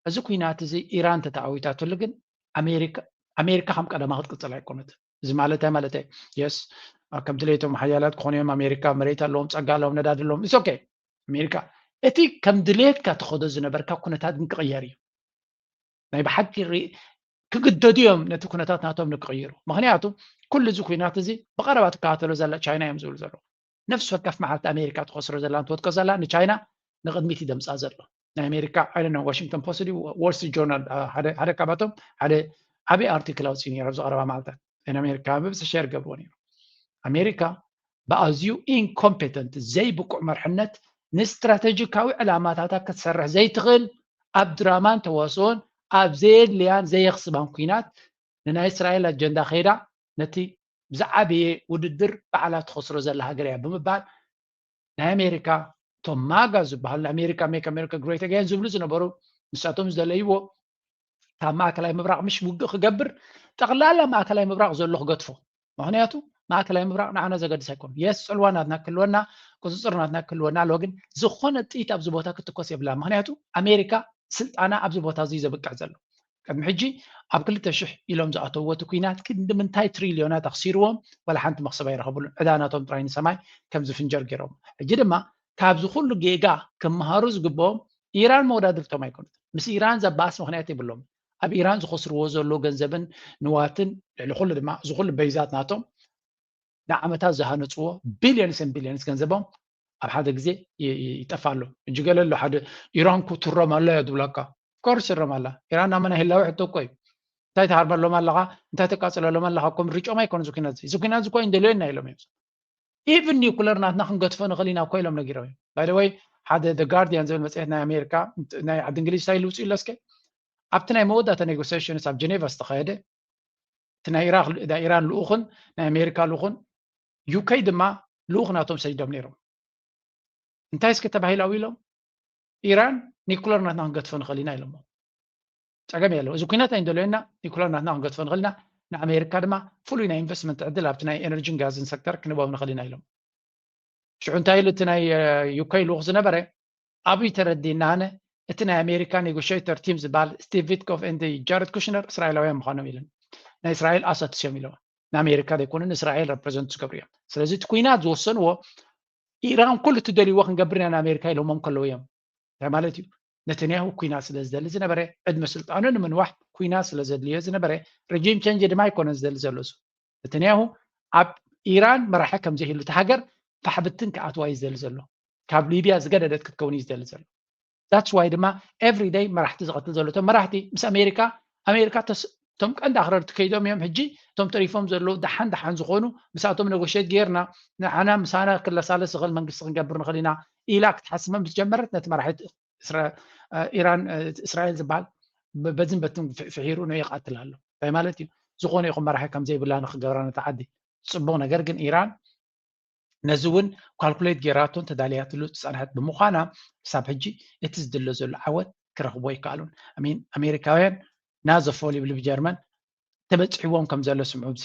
እዚ ኩናት እዚ ኢራን ተተኣዊታትሉ ግን ኣሜሪካ ከም ቀደማ ክትቅጽል ኣይኮነትን እዚ ማለት እንታይ ማለት እየ የስ ከምቲ ለይቶም ሓያላት ክኾኑ እዮም ኣሜሪካ መሬት ኣለዎም ፀጋ ኣለዎም ነዳድ ኣለዎም ኢስ ኦኬ ኣሜሪካ እቲ ከም ድሌትካ ትኸዶ ዝነበርካ ኩነታት ግን ክቕየር እዩ ናይ ብሓቂ ክግደዱ እዮም ነቲ ኩነታት ናቶም ንክቕይሩ ምክንያቱ ኩሉ እዚ ኩናት እዚ ብቐረባ ትከታተሎ ዘላ ቻይና እዮም ዝብሉ ዘለዉ ነፍሲ ወከፍ መዓልቲ ኣሜሪካ ትኸስሮ ዘላን ትወድቆ ዘላን ንቻይና ንቕድሚት እዩ ደምፃ ዘሎ ናይ ኣሜሪካ ኣይነ ዋሽንግቶን ፖስት ድዩ ዎል ስትሪት ጆርናል ሓደ ካብኣቶም ሓደ ዓብዪ ኣርቲክል ኣውፅኡ ነይሩ ኣብዚ ቀረባ መዓልታት ናይ ኣሜሪካ ብብዝሒ ሸር ገብርዎ ነይሩ ኣሜሪካ ብኣዝዩ ኢንኮምፔተንት ዘይብቁዕ መርሕነት ንስትራተጂካዊ ዕላማታታ ክትሰርሕ ዘይትኽእል ኣብ ድራማን ተዋስኦን ኣብ ዘየድልያን ዘየኽስባን ኩናት ንናይ እስራኤል ኣጀንዳ ከይዳ ነቲ ብዝዓበየ ውድድር ባዕላ ትኸስሮ ዘላ ሃገር እያ ብምባል ናይ ኣሜሪካ እቶም ማጋ ዝበሃሉ ናይ ኣሜሪካ ሜክ ኣሜሪካ ግሬት ኣገን ዝብሉ ዝነበሩ ንሳቶም ዝደለይዎ ካብ ማእከላይ ምብራቕ ምሽ ውግእ ክገብር ጠቕላላ ማእከላይ ምብራቕ ዘሎ ክገድፎ ምክንያቱ ማእከላይ ምብራቕ ንዓና ዘገድስ ኣይኮኑ የስ ፅልዋ ናትና ክህልወና ቁፅፅር ናትና ክህልወና ኣለዎ ግን ዝኾነ ጥይት ኣብዚ ቦታ ክትኮስ የብላ ምክንያቱ ኣሜሪካ ስልጣና ኣብዚ ቦታ እዚ ዘብቅዕ ዘሎ ቅድሚ ሕጂ ኣብ ክልተ ሽሕ ኢሎም ዝኣተውዎ እቲ ኩናት ክንዲ ምንታይ ትሪልዮናት ኣኽሲርዎም ዋላ ሓንቲ መኽሰብ ኣይረኸብሉን ዕዳ ናቶም ጥራይ ንሰማይ ከም ዝፍንጀር ጌሮሞ ሕጂ ድማ ካብዚ ኩሉ ጌጋ ክመሃሩ ዝግብኦም ኢራን መወዳድርቶም ኣይኮነትን ምስ ኢራን ዘባእስ ምኽንያት የብሎምን ኣብ ኢራን ዝኸስርዎ ዘሎ ገንዘብን ንዋትን ልዕሊ ኩሉ ድማ እዚ ኩሉ በይዛት ናቶም ንዓመታት ዝሃነፅዎ ቢልዮንስን ቢልዮንስ ገንዘቦም ኣብ ሓደ ግዜ ይጠፋ ኣሎ እጂ ገለ ኣሎ ሓደ ኢራን ኩ ትረም ኣላ እያ ዝብላካ ኮርስ ትረም ኣላ ኢራን ናብ መና ህላዊ ሕቶ እኮ እዩ እንታይ ትሃርመሎም ኣለኻ እንታይ ተቃፅለሎም ኣለኻ እኮ ምርጮም ኣይኮነ ዝኩናት እዚ ኩናት እኮ እንደልዮና ኢሎም እዮም ኢቭን ኒኩለር ናትና ክንገትፎ ንኽእል ኢና እኮ ኢሎም ነጊሮም እዮም ባይደወይ ሓደ ደ ጋርዲያን ዝብል መፅሄት ናይ ኣሜሪካ ናይ ዓዲ እንግሊዝ እንታይ ልውፅኡ ኣለስከ ኣብቲ ናይ መወዳእታ ኔጎሲሽንስ ኣብ ጀኔቫ ዝተኸየደ እቲ ናይ ኢራክ ናይ ኢራን ልኡኽን ናይ ኣሜሪካ ልኡኽን ዩከይ ድማ ልኡኽ ናቶም ሰዲዶም ነይሮም እንታይ እስከ ተባሂሉ ኣው ኢሎም ኢራን ኒኩለር ናትና ክንገትፎ ንኽእል ኢና ኢሎሞ ፀገም የለው እዚ ኩናት ናይ እንደለየና ኒኩለር ናትና ክንገትፎ ንኽእል ኢና ንኣሜሪካ ድማ ፍሉይ ናይ ኢንቨስትመንት ዕድል ኣብቲ ናይ ኤነርጂን ጋዝን ሰክተር ክንህቦም ንኽእል ኢና ኢሎም ሽዑ እንታይ ኢሉ እቲ ናይ ዩከይ ልኡኽ ዝነበረ ኣብይ ተረዲእና ኣነ እቲ ናይ ኣሜሪካ ኔጎሸይተር ቲም ዝባል ስቲቭ ቪትኮፍ ኤንድ ጃረድ ኩሽነር እስራኤላውያን ምዃኖም ኢለን ናይ እስራኤል ኣሳትስ እዮም ኢለዋ ንኣሜሪካ ዘይኮኑ ንእስራኤል ረፕረዘንት ዝገብሩ እዮም ስለዚ እቲ ኩናት ዝወሰንዎ ኢራን ኩሉ እትደልይዎ ክንገብር ኢና ንኣሜሪካ ኢሎሞም ከለዉ እዮም እንታይ ማለት እዩ ነተንያሁ ኩናት ስለ ዝደሊ ዝነበረ ዕድመ ስልጣኑ ንምንዋሕ ኩናት ስለ ዘድልዮ ዝነበረ ረጂም ቸንጅ ድማ ኣይኮነን ዝደሊ ዘሎ እሱ ነተንያሁ ኣብ ኢራን መራሒ ከም ዘይህሉ እቲ ሃገር ፋሕብትን ክኣትዋ እዩ ዝደሊ ዘሎ ካብ ሊብያ ዝገደደት ክትከውን እዩ ዝደሊ ዘሎ ዳትስ ዋይ ድማ ኤቭሪ ደይ መራሕቲ ዝቐትል ዘሎ እቶም መራሕቲ ምስ ኣሜሪካ ኣሜሪካ እቶም ቀንዲ ኣኽረርቲ ከይዶም እዮም ሕጂ እቶም ተሪፎም ዘለዉ ደሓን ደሓን ዝኾኑ ምስኣቶም ነጎሸት ጌርና ንዓና ምሳና ክለሳለስ ዝኽእል መንግስቲ ክንገብር ንኽእል ኢና ኢላ ክትሓስብ ምስ ጀመረት ነቲ መራሒ ኢራን እስራኤል ዝበሃል በዝን በትን ፍሒሩ ን ይቃትል ኣሎ እንታይ ማለት እዩ ዝኾነ ይኹን መራሒ ከምዘይብላ ንክገብራ ነታ ዓዲ ፅቡቅ ነገር ግን ኢራን ነዚ እውን ኳልኩሌት ጌራቶን ተዳልያትሉ ዝፀንሐት ብምዃና ክሳብ ሕጂ እቲ ዝድለ ዘሎ ዓወት ክረኽቦ ይከኣሉን ሚን ኣሜሪካውያን ናዘፎ ልብልብ ጀርመን ተበፂሕዎም ከም ዘሎ ስምዑ ብዚ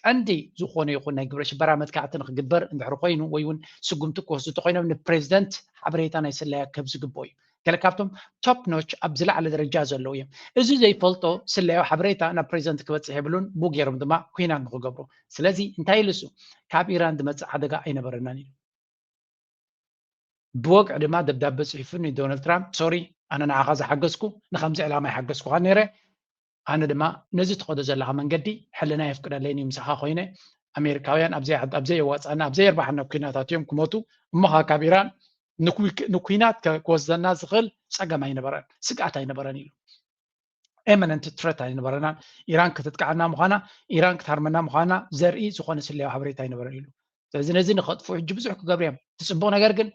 ቀንዲ ዝኾነ ይኹን ናይ ግብረ ሽበራ መጥቃዕቲ ንክግበር እንድሕር ኮይኑ ወይ እውን ስጉምቲ ክወስዱ እንተኾይኖም ንፕሬዚደንት ሓበሬታ ናይ ስለያ ክህብ ዝግብኦ እዩ። ገለ ካብቶም ቶፕ ኖች ኣብ ዝለዓለ ደረጃ ዘለዉ እዮም። እዚ ዘይፈልጦ ስለያዊ ሓበሬታ ናብ ፕሬዚደንት ክበፅሕ የብሉን፣ ብኡ ገይሮም ድማ ኩናት ንክገብሩ። ስለዚ እንታይ ኢሉ እሱ ካብ ኢራን ዝመፅእ ሓደጋ ኣይነበረናን ኢሉ። ብወግዒ ድማ ደብዳበ ፅሒፉ ንዶናልድ ትራምፕ ሶሪ ኣነ ንዓኻ ዝሓገዝኩ ንከምዚ ዕላማ ኣይሓገዝኩኻን ነይረ፣ ኣነ ድማ ነዚ ትኸዶ ዘለኻ መንገዲ ሕልናይ የፍቅደለይን እዩ ምሳኻ ኮይነ ኣሜሪካውያን ኣብ ዘየዋፅኣና ኣብ ዘየርባሓና ኩናታት እዮም ክሞቱ እሞኻ ካብ ኢራን ንኩናት ክወስደና ዝኽእል ፀገም ኣይነበረን ስግኣት ኣይነበረን ኢሉ ኤመነንት ትረት ኣይነበረናን ኢራን ክትጥቃዓና ምዃና ኢራን ክትሃርመና ምዃና ዘርኢ ዝኾነ ስለያዊ ሓበሬታ ኣይነበረን ኢሉ ስለዚ ነዚ ንኸጥፉ ሕጂ ብዙሕ ክገብሩ እዮም እቲ ፅቡቅ ነገር ግን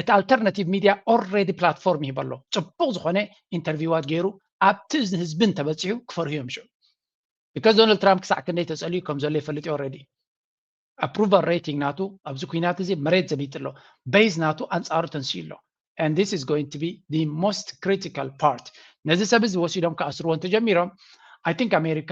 እቲ ኣልተርናቲቭ ሚድያ ኦልሬዲ ፕላትፎርም ይህብ ኣሎ ፅቡቅ ዝኮነ ኢንተርቪዋት ገይሩ ኣብቲ ህዝቢ እንተበፂሑ ክፈርሁ እዮም ሽዑ ቢካዝ ዶናልድ ትራምፕ ክሳዕ ክንደይ ተፀልዩ ከም ዘሎ ይፈልጥ እዩ ኦልሬዲ ኣፕሩቫል ሬቲንግ ናቱ ኣብዚ ኩናት እዚ መሬት ዘቢጡ ኣሎ በይዝ ናቱ ኣንፃሩ ተንስኡ ኣሎ and this is going to be the most critical part ነዚ ሰብ እዚ ወሲዶም ክኣስርዎ እንተጀሚሮም i think ኣሜሪካ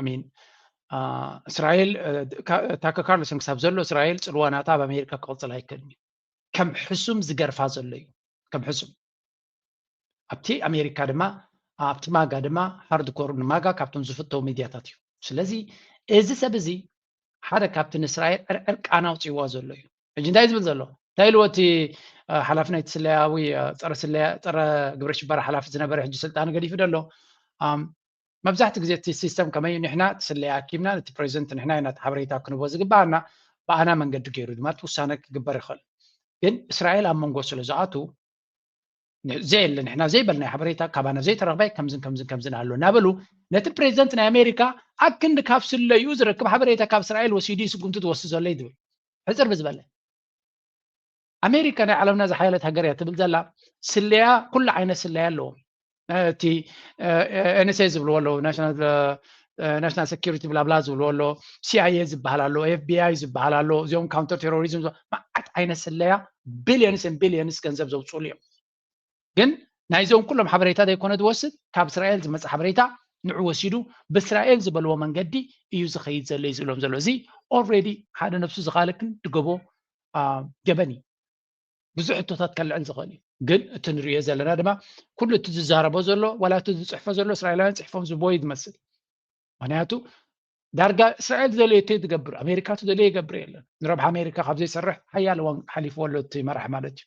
ኣሚን እስራኤል ታከ ካርልሰን ክሳብ ዘሎ እስራኤል ፅልዋ ናታ ኣብ ኣሜሪካ ክቕፅል ኣይክእልን እዩ ከም ሕሱም ዝገርፋ ዘሎ እዩ ከም ሕሱም ኣብቲ ኣሜሪካ ድማ ኣብቲ ማጋ ድማ ሃርድኮር ንማጋ ካብቶም ዝፍተው ሚድያታት እዩ ስለዚ እዚ ሰብ እዚ ሓደ ካብቲ ንእስራኤል ዕርዕር ቃና ኣውፅዋ ዘሎ እዩ ሕጂ እንታይ ዝብል ዘሎ እንታይ ኢልዎ እቲ ሓላፊ ናይቲ ስለያዊ ፀረ ግብረ ሽበራ ሓላፊ ዝነበረ ሕጂ ስልጣን ገዲፉ ደሎ መብዛሕትኡ ግዜ እቲ ሲስተም ከመይ ንሕና እቲ ስለያ ኣኪብና ነቲ ፕሬዚደንት ንሕና ኢና እቲ ሓበሬታ ክንቦ ዝግባኣና ብኣና መንገዲ ገይሩ ድማ እቲ ውሳነ ክግበር ይኽእል ግን እስራኤል ኣብ መንጎ ስለ ዝኣቱ ዘየለ ንሕና ዘይበልናዮ ሓበሬታ ካባና ዘይተረኽበ ከምዝን ከምዝን ከምዝን ኣሎ እናበሉ ነቲ ፕሬዚደንት ናይ ኣሜሪካ ኣብ ክንዲ ካብ ስለዩ ዝረክብ ሓበሬታ ካብ እስራኤል ወሲዱ ስጉምቲ ዝወስድ ዘሎ እዩ ዝብል ሕፅር ብዝበለ ኣሜሪካ ናይ ዓለምና ዝሓየለት ሃገር እያ ትብል ዘላ ስለያ ኩሉ ዓይነት ስለያ ኣለዎ እቲ ኤንኤስኤ ዝብልዎ ኣለዎ ናሽናል ሴኪሪቲ ብላብላ ዝብልዎ ኣሎ ሲኣይኤ ዝበሃል ኣሎ ኤፍቢኣይ ዝበሃል ኣሎ እዚኦም ካውንተር ቴሮሪዝም መዓት ዓይነት ስለያ ቢልዮንስን ቢልዮንስ ገንዘብ ዘውፅሉ እዮም ግን ናይዞም ኩሎም ሓበሬታ ዘይኮነ ዝወስድ ካብ እስራኤል ዝመፀ ሓበሬታ ንዑ ወሲዱ ብእስራኤል ዝበልዎ መንገዲ እዩ ዝኸይድ ዘሎ እዩ ዝብሎም ዘሎ እዚ ኦልሬዲ ሓደ ነብሱ ዝኻልክን ድገቦ ገበን እዩ ብዙ ሕቶታት ከልዕል ዝኽእል እዩ ግን እቲ ንሪዮ ዘለና ድማ ኩሉ እቲ ዝዛረቦ ዘሎ ዋላ እቲ ዝፅሕፎ ዘሎ እስራኤላውያን ፅሕፎም ዝቦ እዩ ዝመስል ምክንያቱ ዳርጋ እስራኤል ዝደለዮ እተይ ዝገብር ኣሜሪካ ትደለዮ ይገብር የለን ንረብሓ ኣሜሪካ ካብ ዘይሰርሕ ሓያለ እዋን ሓሊፍዎ ኣሎ እቲ መራሕ ማለት እዩ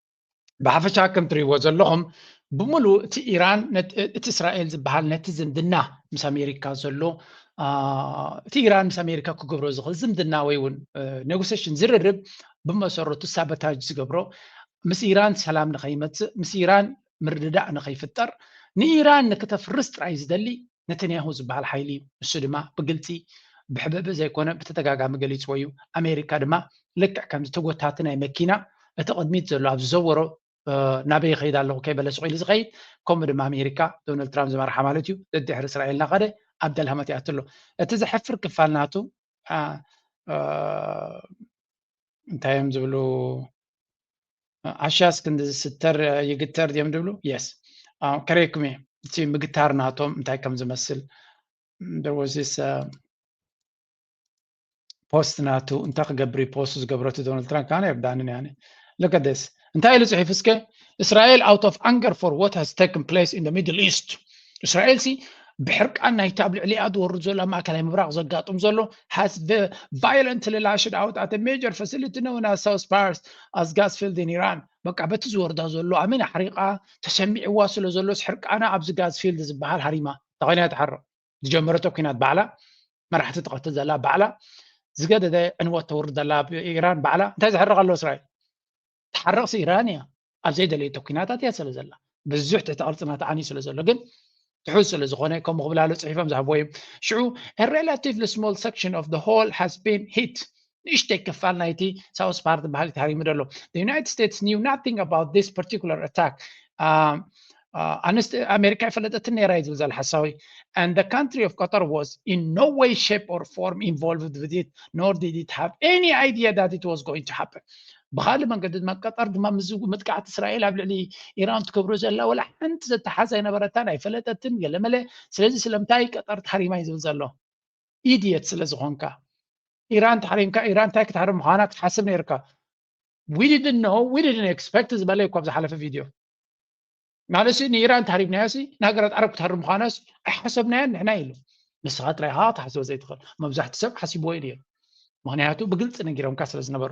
ብሓፈሻ ከም ትሪእዎ ዘለኹም ብምሉእ እቲ ኢራን እቲ እስራኤል ዝበሃል ነቲ ዝምድና ምስ ኣሜሪካ ዘሎ እቲ ኢራን ምስ ኣሜሪካ ክገብሮ ዝኽእል ዝምድና ወይ እውን ኔጎሴሽን ዝርርብ ብመሰረቱ ሳበታጅ ዝገብሮ ምስ ኢራን ሰላም ንኸይመፅእ ምስ ኢራን ምርድዳእ ንኸይፍጠር ንኢራን ንክተፍርስ ጥራይ ዝደሊ ነተንያሁ ዝበሃል ሓይሊ እዩ፣ ንሱ ድማ ብግልጺ ብሕብእብእ ዘይኮነ ብተደጋጋሚ ገሊጽዎ እዩ፣ ኣሜሪካ ድማ ልክዕ ከምዚ ተጎታቲ ናይ መኪና እቲ ቅድሚት ዘሎ ኣብ ዝዘወሮ ናበይ ይኸይድ ኣለኹ ከይበለ ስቕ ኢሉ ዝኸይድ ከምኡ ድማ ኣሜሪካ ዶናልድ ትራምፕ ዝመርሓ ማለት እዩ ደድሕሪ እስራኤል እናኸደ ኣብ ደልሃመት ይኣትሎ እቲ ዘሕፍር ክፋል ናቱ እንታይ እዮም ዝብሉ ዓሻስ ክንዲ ዝስተር ይግተር ድዮም ዝብሉ የስ ከረይኩም እየ እቲ ምግታር ናቶም እንታይ ከም ዝመስል ደወዚስ ፖስት ናቱ እንታይ ክገብር ፖስት ዝገብረቱ ዶናልድ ትራምፕ ካነ የርዳንን ያነ ለከደስ እንታይ ኢሉ ጽሒፉ እስከ እስራኤል ኣውት ኦፍ ኣንገር ፎር ዋት ሃዝ ተክን ፕሌስ ኢን ሚድል ኢስት እስራኤል ሲ ብሕርቃን ናይቲ ኣብ ልዕሊኣ ዝወርድ ዘሎ ኣብ ማእከላይ ምብራቕ ዘጋጥም ዘሎ ሃስ ቫዮለንት ላሽድ ኣውት ኣተ ሜጀር ፋሲሊቲ ነውና ሳውስ ፓርስ ኣስ ጋስ ፊልድ ን ኢራን በቃ በቲ ዝወርዳ ዘሎ ኣሚን ኣሕሪቓ ተሰሚዕዋ ስለ ዘሎስ ሕርቃና ኣብዚ ጋዝ ፊልድ ዝበሃል ሃሪማ ተኸንያ ትሓርቕ ዝጀመረቶ ኩናት ባዕላ መራሕቲ ትቐትል ዘላ ባዕላ ዝገደደ ዕንወት ተውርድ ዘላ ኢራን ባዕላ እንታይ ዝሕርቕ ኣሎ እስራኤል ትሓርቕሲ ኢራን እያ ኣብ ዘይደለየቶ ኩናታት እያ ስለ ዘላ ብዙሕ ትሕቲ ቅርፅና ተዓንዩ ስለ ዘሎ ግን ትሑዝ ስለ ዝኾነ ከምኡ ክብላሉ ፅሒፎም ዝሃብዎ እዩ ሽዑ ሬላቲቭሊ ስሞል ሰክሽን ኦፍ ሆል ሃዝ ቢን ሂት ንእሽተይ ክፋል ናይቲ ሳውስ ፓርት በሃሊ ተሃሪሙ ደሎ ዩናይትድ ስቴትስ ኒው ናቲንግ ኣባውት ዚስ ፓርቲኩላር ኣታክ ኣንስት ኣሜሪካ ይፈለጠትን ነራ እዩ ዝብል ዘሎ ሓሳዊ and the country of Qatar was in no way, shape, or form involved with it, nor did it have any idea that it was going to happen. ብካልእ መንገዲ ድማ ቀጠር ድማ ምስ መጥቃዕቲ እስራኤል ኣብ ልዕሊ ኢራን ትገብሮ ዘላ ወላ ሓንቲ ዘተሓዝ ኣይነበረታን ኣይፈለጠትን ገለመለ ስለዚ ስለምንታይ ቀጠር ታሪማ እዩ ዝብል ዘሎ ኢድየት ስለ ዝኾንካ ኢራን ተሓሪምካ ኢራን እንታይ ክትሃርም ምዃና ክትሓስብ ነይርካ ዊድድን ኖ ዊድድን ኤክስፐክት ዝበለ እኳ ዝሓለፈ ቪድዮ ማለት ንኢራን ተሃሪምናያሲ ንሃገራት ዓረብ ክትሃርም ምዃናሲ ኣይሓሰብናያን ንሕና ኢሉ ንስኻ ጥራይ ኢኻ ክትሓስቦ ዘይትኽእል መብዛሕቲ ሰብ ሓሲብዎ እዩ ነይሩ ምክንያቱ ብግልፂ ነጊሮምካ ስለ ዝነበሩ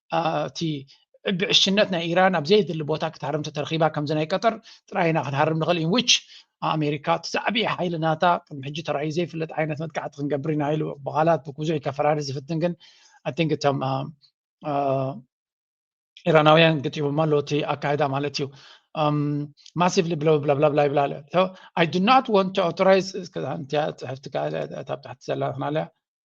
እቲ ብዕሽነት ናይ ኢራን ኣብ ዘየድሊ ቦታ ክትሃርም ተተረኺባ ከምዚ ናይ ቀጠር ጥራይ ኢና ክንሃርም ንኽእል ኢን ዊች ኣሜሪካ እቲ ዝዓብየ ሓይሊ ናታ ቅድሚ ሕጂ ተራእዩ ዘይፍለጥ ዓይነት መጥቃዕቲ ክንገብር ኢና ኢሉ ብቓላት ብብዙሕ ከፈራሪ ዝፍትን ግን ኣይ ቲንክ እቶም ኢራናውያን ግጢቦማ ኣሎ እቲ ኣካይዳ ማለት እዩ ማሲቭሊ ብለብለብለብላ ይብላ ኣሎ ኣይ ዱ ናት ወንት ኦቶራይዝ ጽሕፍቲ ካብ ታሕቲ ዘላ ክናለያ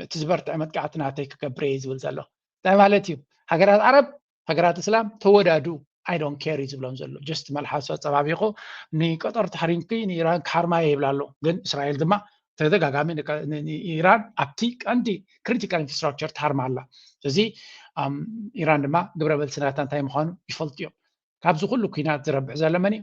ነቲ ዝበርትዐ መጥቃዕቲ ናተይ ክገብር እየ ዝብል ዘሎ እንታይ ማለት እዩ ሃገራት ዓረብ ሃገራት እስላም ተወዳዱ ኣይዶን ኬር እዩ ዝብሎም ዘሎ ጀስት መልሓሶ ፀባቢቑ ንቀጠር ታሕሪምኪ ንኢራን ክሓርማ እየ ይብላ ኣሎ ግን እስራኤል ድማ ተደጋጋሚ ንኢራን ኣብቲ ቀንዲ ክሪቲካል ኢንፍራስትራክቸር ትሃርማ ኣላ እዚ ኢራን ድማ ግብረ መልሲ ናታ እንታይ ምዃኑ ይፈልጡ እዮም ካብዚ ኩሉ ኩናት ዝረብሕ ዘሎ መን እዩ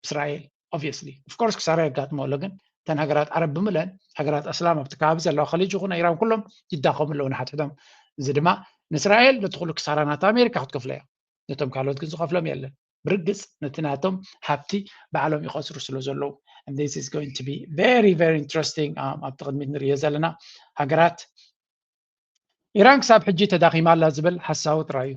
እስራኤል ኦብስሊ ፍኮርስ ክሳራ የጋጥሞ ኣሎ ግን እተን ሃገራት ዓረብ ብምለን ሃገራት ኣስላም ኣብቲ ከባቢ ዘለዋ ከሊጅ ይኹን ኢራን ኩሎም ይዳኸሙ ኣለዉ ንሓትሕቶም እዚ ድማ ንእስራኤል ነቲ ኩሉ ክሳራ ናት ኣሜሪካ ክትከፍሎ እያ ነቶም ካልኦት ግን ዝኸፍሎም የለን ብርግፅ ነቲ ናቶም ሃብቲ ባዕሎም ይኸስሩ ስለ ዘለዉ ኢንትረስቲንግ um, ኣብቲ ቅድሚት ንርዮ ዘለና ሃገራት ኢራን ክሳብ ሕጂ ተዳኺማ ኣላ ዝብል ሓሳዊ ጥራይ እዩ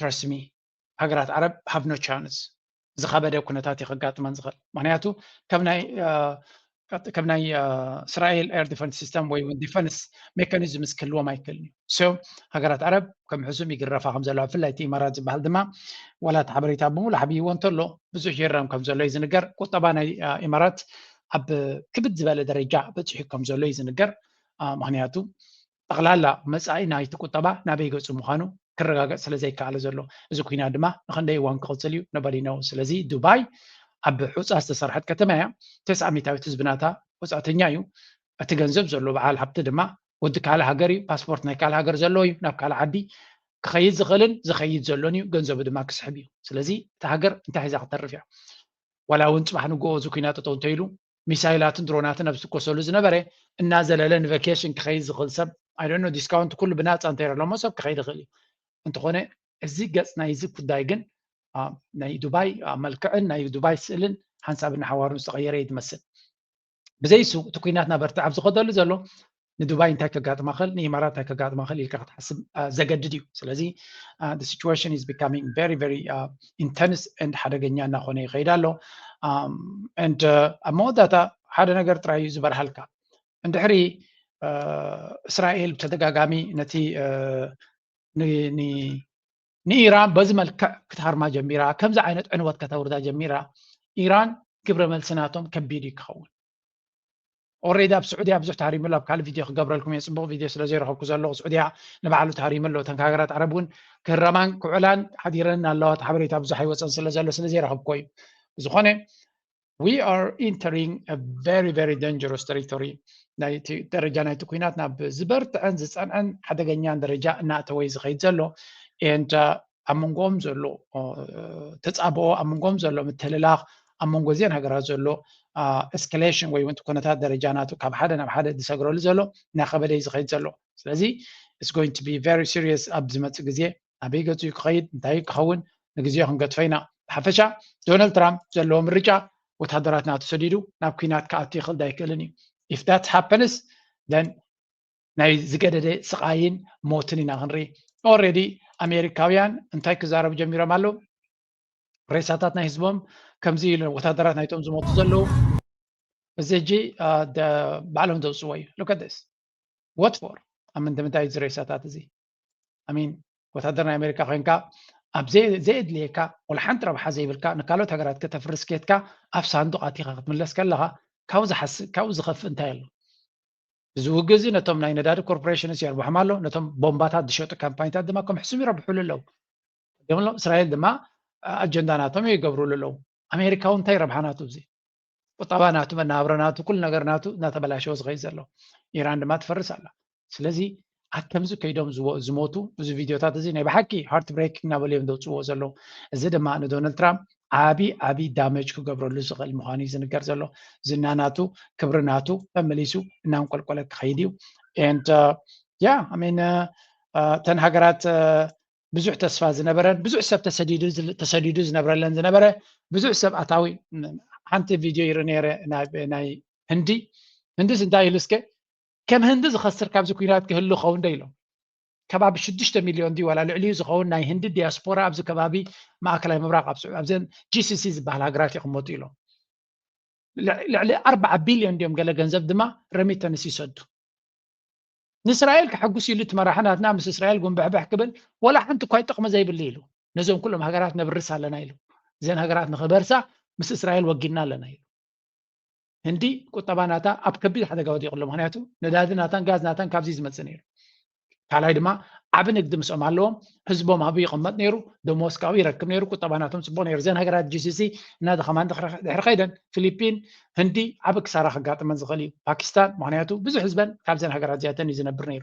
ትረስት ሚ ሃገራት ዓረብ ሃቭ ኖ ቻንስ ዝኸበደ ኩነታት እዩ ከጋጥመን ዝኽእል ምክንያቱ ከም ናይ ከም ናይ እስራኤል ኤር ዲፈንስ ሲስተም ወይ እውን ዲፈንስ ሜካኒዝምስ ክህልዎም ኣይክእልን እዩ ሶ ሃገራት ዓረብ ከም ሕሱም ይግረፋ ከም ዘለዋ ብፍላይ እቲ ኢማራት ዝበሃል ድማ ዋላ እቲ ሓበሬታ ብምሉ ሓብይዎ እንተሎ ብዙሕ ይረም ከም ዘሎ እዩ ዝንገር ቁጠባ ናይ ኢማራት ኣብ ክብድ ዝበለ ደረጃ በፂሑ ከም ዘሎ እዩ ዝንገር ምክንያቱ ጠቕላላ መጻኢ ናይቲ ቁጠባ ናበይ ገጹ ምዃኑ ክረጋገጽ ስለ ዘይከኣለ ዘሎ እዚ ኩናት ድማ ንኽንደይ እዋን ክቕጽል እዩ ኖበዲ ኖው ስለዚ ዱባይ ኣብ ሑጻ ዝተሰርሐት ከተማ እያ ተስዓ ሚታዊት ህዝቢ ናታ ወጻእተኛ እዩ እቲ ገንዘብ ዘሎ በዓል ሃብቲ ድማ ወዲ ካልእ ሃገር እዩ ፓስፖርት ናይ ካልእ ሃገር ዘለዎ እዩ ናብ ካልእ ዓዲ ክኸይድ ዝኽእልን ዝኸይድ ዘሎን እዩ ገንዘቡ ድማ ክስሕብ እዩ ስለዚ እቲ ሃገር እንታይ ሒዛ ክተርፍ እያ ዋላ እውን ፅባሕ ንግኦ እዚ ኩናት ጠጠው እንተኢሉ ሚሳይላትን ድሮናትን ኣብ ዝትኮሰሉ ዝነበረ እናዘለለ ንቫኬሽን ክኸይድ ዝኽእል ሰብ ኣይደኖ ዲስካውንት ኩሉ ብናፃ እንተይረሎሞ ሰብ ክኸይድ ይኽእል እዩ እንተኾነ እዚ ገፅ ናይ እዚ ጉዳይ ግን ናይ ዱባይ መልክዕን ናይ ዱባይ ስእልን ሓንሳብን ሓዋሩን ዝተቐየረ እዩ ዝመስል ብዘይሱ እቲ ኩናት ናበርትዕ ኣብ ዝኸደሉ ዘሎ ንዱባይ እንታይ ከጋጥማ ኸል ንኢማራት እንታይ ከጋጥማ ኸል ኢልካ ክትሓስብ ዘገድድ እዩ ስለዚ ሲቹዌሽን ኢዝ ቢካሚንግ ቨሪ ቨሪ ኢንተንስ ንድ ሓደገኛ እናኾነ ይኸይድ ኣሎ ንድ ኣብ መወዳእታ ሓደ ነገር ጥራይ እዩ ዝበርሃልካ እንድሕሪ እስራኤል ብተደጋጋሚ ነቲ ንኢራን በዚ መልክዕ ክትሃርማ ጀሚራ ከምዚ ዓይነት ዕንወት ከተውርዳ ጀሚራ ኢራን ግብረ መልሲ ናቶም ከቢድ እዩ ክኸውን ኦሬዲ ኣብ ስዑድያ ብዙሕ ተሃሪሙ ኣሎ ኣብ ካልእ ቪድዮ ክገብረልኩም እየ ፅቡቕ ቪድዮ ስለ ዘይረኸብኩ ዘለኹ ስዑድያ ንባዕሉ ተሃሪሙ ኣሎ እተን ሃገራት ዓረብ እውን ክህረማን ክውዕላን ሓዲረን ኣለዋ እቲ ሓበሬታ ብዙሕ ኣይወፀን ስለ ዘሎ ስለ ዘይረኸብኮ እዩ ብዝኾነ ዊ ኣር ኢንተሪንግ ቨሪ ቨሪ ደንጀሮስ ተሪቶሪ ናይ ደረጃ ናይቲ ኩናት ናብ ዝበርትዐን ዝፀንዐን ሓደገኛን ደረጃ እናእተወ ዝኸይድ ዘሎ ኤንድ ኣብ መንጎኦም ዘሎ ተፃብኦ ኣብ መንጎኦም ዘሎ ምትልላኽ ኣብ መንጎ እዚን ሃገራት ዘሎ ኤስካሌሽን ወይ እውን ኩነታት ደረጃ ናቱ ካብ ሓደ ናብ ሓደ ዝሰግረሉ ዘሎ እናኸበደ እዩ ዝኸይድ ዘሎ ስለዚ ኢትስ ጎይንግ ቱ ቢ ቨሪ ሲሪየስ ኣብ ዝመፅእ ግዜ ኣበይ ገፁ እዩ ክኸይድ እንታይ ክኸውን ንግዜ ክንገድፎ ኢና ብሓፈሻ ዶናልድ ትራምፕ ዘለዎ ምርጫ ወታደራት ናቱ ሰዲዱ ናብ ኩናት ክኣቱ ይኽእል ዳይክእልን እዩ ኢፍ ዳት ሃፐንስ ደን ናይ ዝገደደ ስቓይን ሞትን ኢና ክንርኢ ኦረዲ ኣሜሪካውያን እንታይ ክዛረቡ ጀሚሮም ኣለዉ ሬሳታት ናይ ህዝቦም ከምዚ ወታደራት ናይቶም ዝሞቱ ዘለዉ እዚ ሕጂ ባዕሎም ዘውፅዎ እዩ ሉከደስ ወትፎር ኣብ ምንድምንታይ እዚ ሬሳታት እዚ ኣሚን ወታደር ናይ ኣሜሪካ ኮንካ ኣብ ዘየድልየካ ወላ ሓንቲ ረብሓ ዘይብልካ ንካልኦት ሃገራት ከተፍርስ ኬትካ ኣብ ሳንዱቅ ኣቲኻ ክትምለስ ከለኻ ካብኡ ዝሓስ ካብኡ ዝኸፍእ እንታይ ኣሎ እዚ ውግእ እዚ ነቶም ናይ ነዳዲ ኮርፖሬሽንስ የርብሖም ኣሎ ነቶም ቦምባታት ዝሸጡ ካምፓኒታት ድማ ከም ሕሱም ይረብሕሉ ኣለዉ ገምሎም እስራኤል ድማ ኣጀንዳ ናቶም እዩ ይገብርሉ ኣለዉ ኣሜሪካ እውን እንታይ ረብሓ ናቱ እዚ ቁጠባ ናቱ መናብረ ናቱ ኩሉ ነገር ናቱ እናተበላሸወ ዝኸይድ ዘሎ ኢራን ድማ ትፈርስ ኣላ ስለዚ ኣብ ከምዚ ከይዶም ዝሞቱ እዚ ቪድዮታት እዚ ናይ ብሓቂ ሃርት ብሬክ እናበሉ እዮም ዘውፅዎ ዘለዉ እዚ ድማ ንዶናልድ ትራምፕ ዓብዪ ዓብዪ ዳመጅ ክገብረሉ ዝኽእል ምዃኑ እዩ ዝንገር ዘሎ ዝና ናቱ ክብሪ ናቱ ተመሊሱ እናንቆልቆለ ክኸይድ እዩ ንድ ያ ሚን ተን ሃገራት ብዙሕ ተስፋ ዝነበረን ብዙሕ ሰብ ተሰዲዱ ዝነብረለን ዝነበረ ብዙሕ ሰብ ኣታዊ ሓንቲ ቪድዮ ይርኢ ነይረ ናይ ህንዲ ህንዲስ እንታይ ኢሉ እስከ ከም ህንዲ ዝኸስር ካብዚ ኩናት ክህሉ ኸውን ዶ ኢሎም። ከባቢ ሽዱሽተ ሚልዮን ድዩ ዋላ ልዕሊኡ ዝኸውን ናይ ህንዲ ዲያስፖራ ኣብዚ ከባቢ ማእከላይ ምብራቕ ኣብ ስዑ ኣብዘን GCC ዝበሃላ ሃገራት ይቕመጡ ኢሎም። ልዕሊ ኣርብዓ ቢልዮን ድዮም ገለ ገንዘብ ድማ ረሚተንስ ይሰዱ። ንእስራኤል ከሐጉስ ኢሉ እቲ መራሒ ናትና ምስ እስራኤል ጉንብሕብሕ ክብል ወላ ሓንቲ እኳ ጥቕሚ ዘይብሉ ኢሉ ነዞም ኩሎም ሃገራት ነብርስ ኣለና ኢሉ እዘን ሃገራት ንኽበርሳ ምስ እስራኤል ወጊንና ኣለና ኢሉ። ህንዲ ቁጠባ ናታ ኣብ ከቢድ ሓደጋ ወዲቑ ኣሎ። ምክንያቱ ነዳዲ ናታን ጋዝ ናታን ካብዚ ዝመፅእ ነይሩ። ካልኣይ ድማ ዓብ ንግዲ ምስኦም ኣለዎም ህዝቦም ኣብኡ ይቕመጥ ነይሩ ደሞስ ካብኡ ይረክብ ነይሩ ቁጠባ ናቶም ፅቡቅ ነይሩ እዘን ሃገራት ጂሲሲ እናደኸማ ድሕሪ ከይደን ፊሊፒን ህንዲ ዓብ ክሳራ ከጋጥመን ዝኽእል እዩ ፓኪስታን ምክንያቱ ብዙሕ ህዝበን ካብዘን ሃገራት እዚኣተን እዩ ዝነብር ነይሩ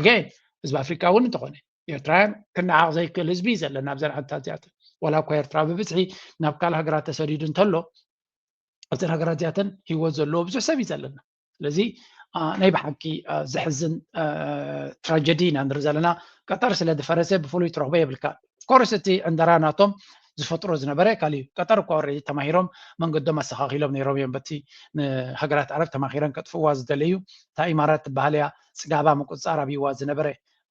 ኣገይን ህዝቢ ኣፍሪካ እውን እንተኾነ ኤርትራውያን ክነዓቕ ዘይክእል ህዝቢ እዩ ዘለና ኣብዘን ዓድታት እዚኣተን ዋላ እኳ ኤርትራ ብብዝሒ ናብ ካልእ ሃገራት ተሰዲዱ እንተሎ ኣብተን ሃገራት እዚኣተን ሂወት ዘለዎ ብዙሕ ሰብ እዩ ዘለና ስለዚ ናይ ብሓቂ ዘሕዝን ትራጀዲ ኢና ንርኢ ዘለና ቀጠር ስለ ዝፈረሰ ብፍሉይ ትረኽቦ የብልካ ኮርስ እቲ ዕንደራ ናቶም ዝፈጥሮ ዝነበረ ካልእ እዩ ቀጠር እኳ ወረዲ ተማሂሮም መንገዶም ኣስተኻኺሎም ነይሮም እዮም በቲ ንሃገራት ዓረብ ተማሂረን ከጥፍዋ ዝደለዩ እታ ኢማራት ትበሃል እያ ፅጋባ ምቁፅፃር ኣብይዋ ዝነበረ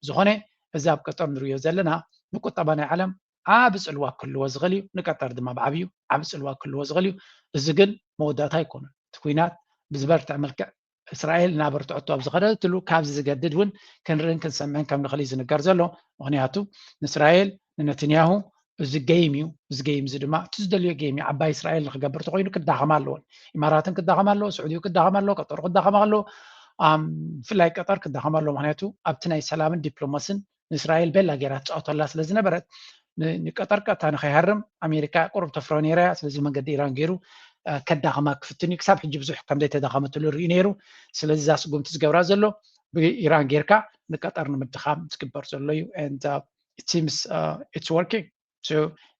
ዝኾነ እዚ ኣብ ቀጠር ንሪዮ ዘለና ንቁጠባ ናይ ዓለም ዓቢ ጽልዋ ክህልዎ ዝኽእል እዩ፣ ንቀጠር ድማ ብዓብዩ ዓቢ ጽልዋ ክህልዎ ዝኽእል እዩ። እዚ ግን መወዳእታ ኣይኮነን። እቲ ኲናት ብዝበርትዐ መልክዕ እስራኤል እናበርትዐቶ ኣብ ዝኸደትሉ ካብዚ ዝገድድ እውን ክንርእን ክንሰምዕን ከም ንኽእል እዩ ዝንገር ዘሎ። ምኽንያቱ ንእስራኤል ንነትንያሁ እዚ ገይም እዩ። እዚ ገይም እዚ ድማ እቲ ዝደልዮ ገይም እዩ። ዓባይ እስራኤል ንክገብር እንተኮይኑ ክዳኸማ ኣለዎን። ኢማራትን ክዳኸማ ኣለዎ፣ ስዑዲኡ ክዳኸማ ኣለዎ፣ ቀጠሩ ክዳኸማ ኣለዎ፣ ብፍላይ ቀጠር ክዳኸማ ኣለዎ። ምክንያቱ ኣብቲ ናይ ሰላምን ዲፕሎማስን ንእስራኤል ቤላ ጌራ ትፃወተላ ስለ ዝነበረት ንቀጠር ቀጥታ ንከይሃርም ኣሜሪካ ቁሩብ ተፍሮ ነይራ እያ ስለዚ መንገዲ ኢራን ገይሩ ከዳኸማ ክፍትን እዩ ክሳብ ሕጂ ብዙሕ ከምዘይተዳኸመትሉ ርኢ ነይሩ ስለዚ እዛ ስጉምቲ ዝገብራ ዘሎ ብኢራን ጌርካ ንቀጠር ንምድኻም ዝግበር ዘሎ እዩ ቲምስ ኢትስ ወርኪንግ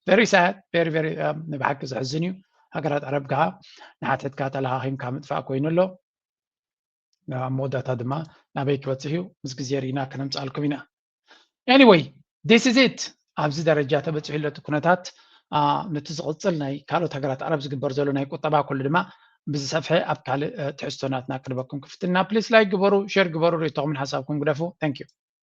ቨሪ ሳድ ቨሪ ቨሪ ንብሓቂ ዘሕዝን እዩ ሃገራት ዓረብ ከዓ ንሓተትካ ተለኻኺምካ ምጥፋእ ኮይኑ ኣሎ ኣብ መወዳእታ ድማ ናበይ ክበፅሕ እዩ ምስ ግዜ ርኢና ከነምፅኣልኩም ኢና ኤኒወይ ዲስ ኢዝ ኢት ኣብዚ ደረጃ ተበፂሑ ኣሎ እቲ ኩነታት ነቲ ዝቕፅል ናይ ካልኦት ሃገራት ዓረብ ዝግበር ዘሎ ናይ ቁጠባ ኩሉ ድማ ብዝሰፍሐ ኣብ ካልእ ትሕዝቶ ናትና ክንበኩም ክፍትና ፕሊስ ላይክ ግበሩ ሸር ግበሩ ርእቶኹምን ሓሳብኩም ግደፉ ታንኪዩ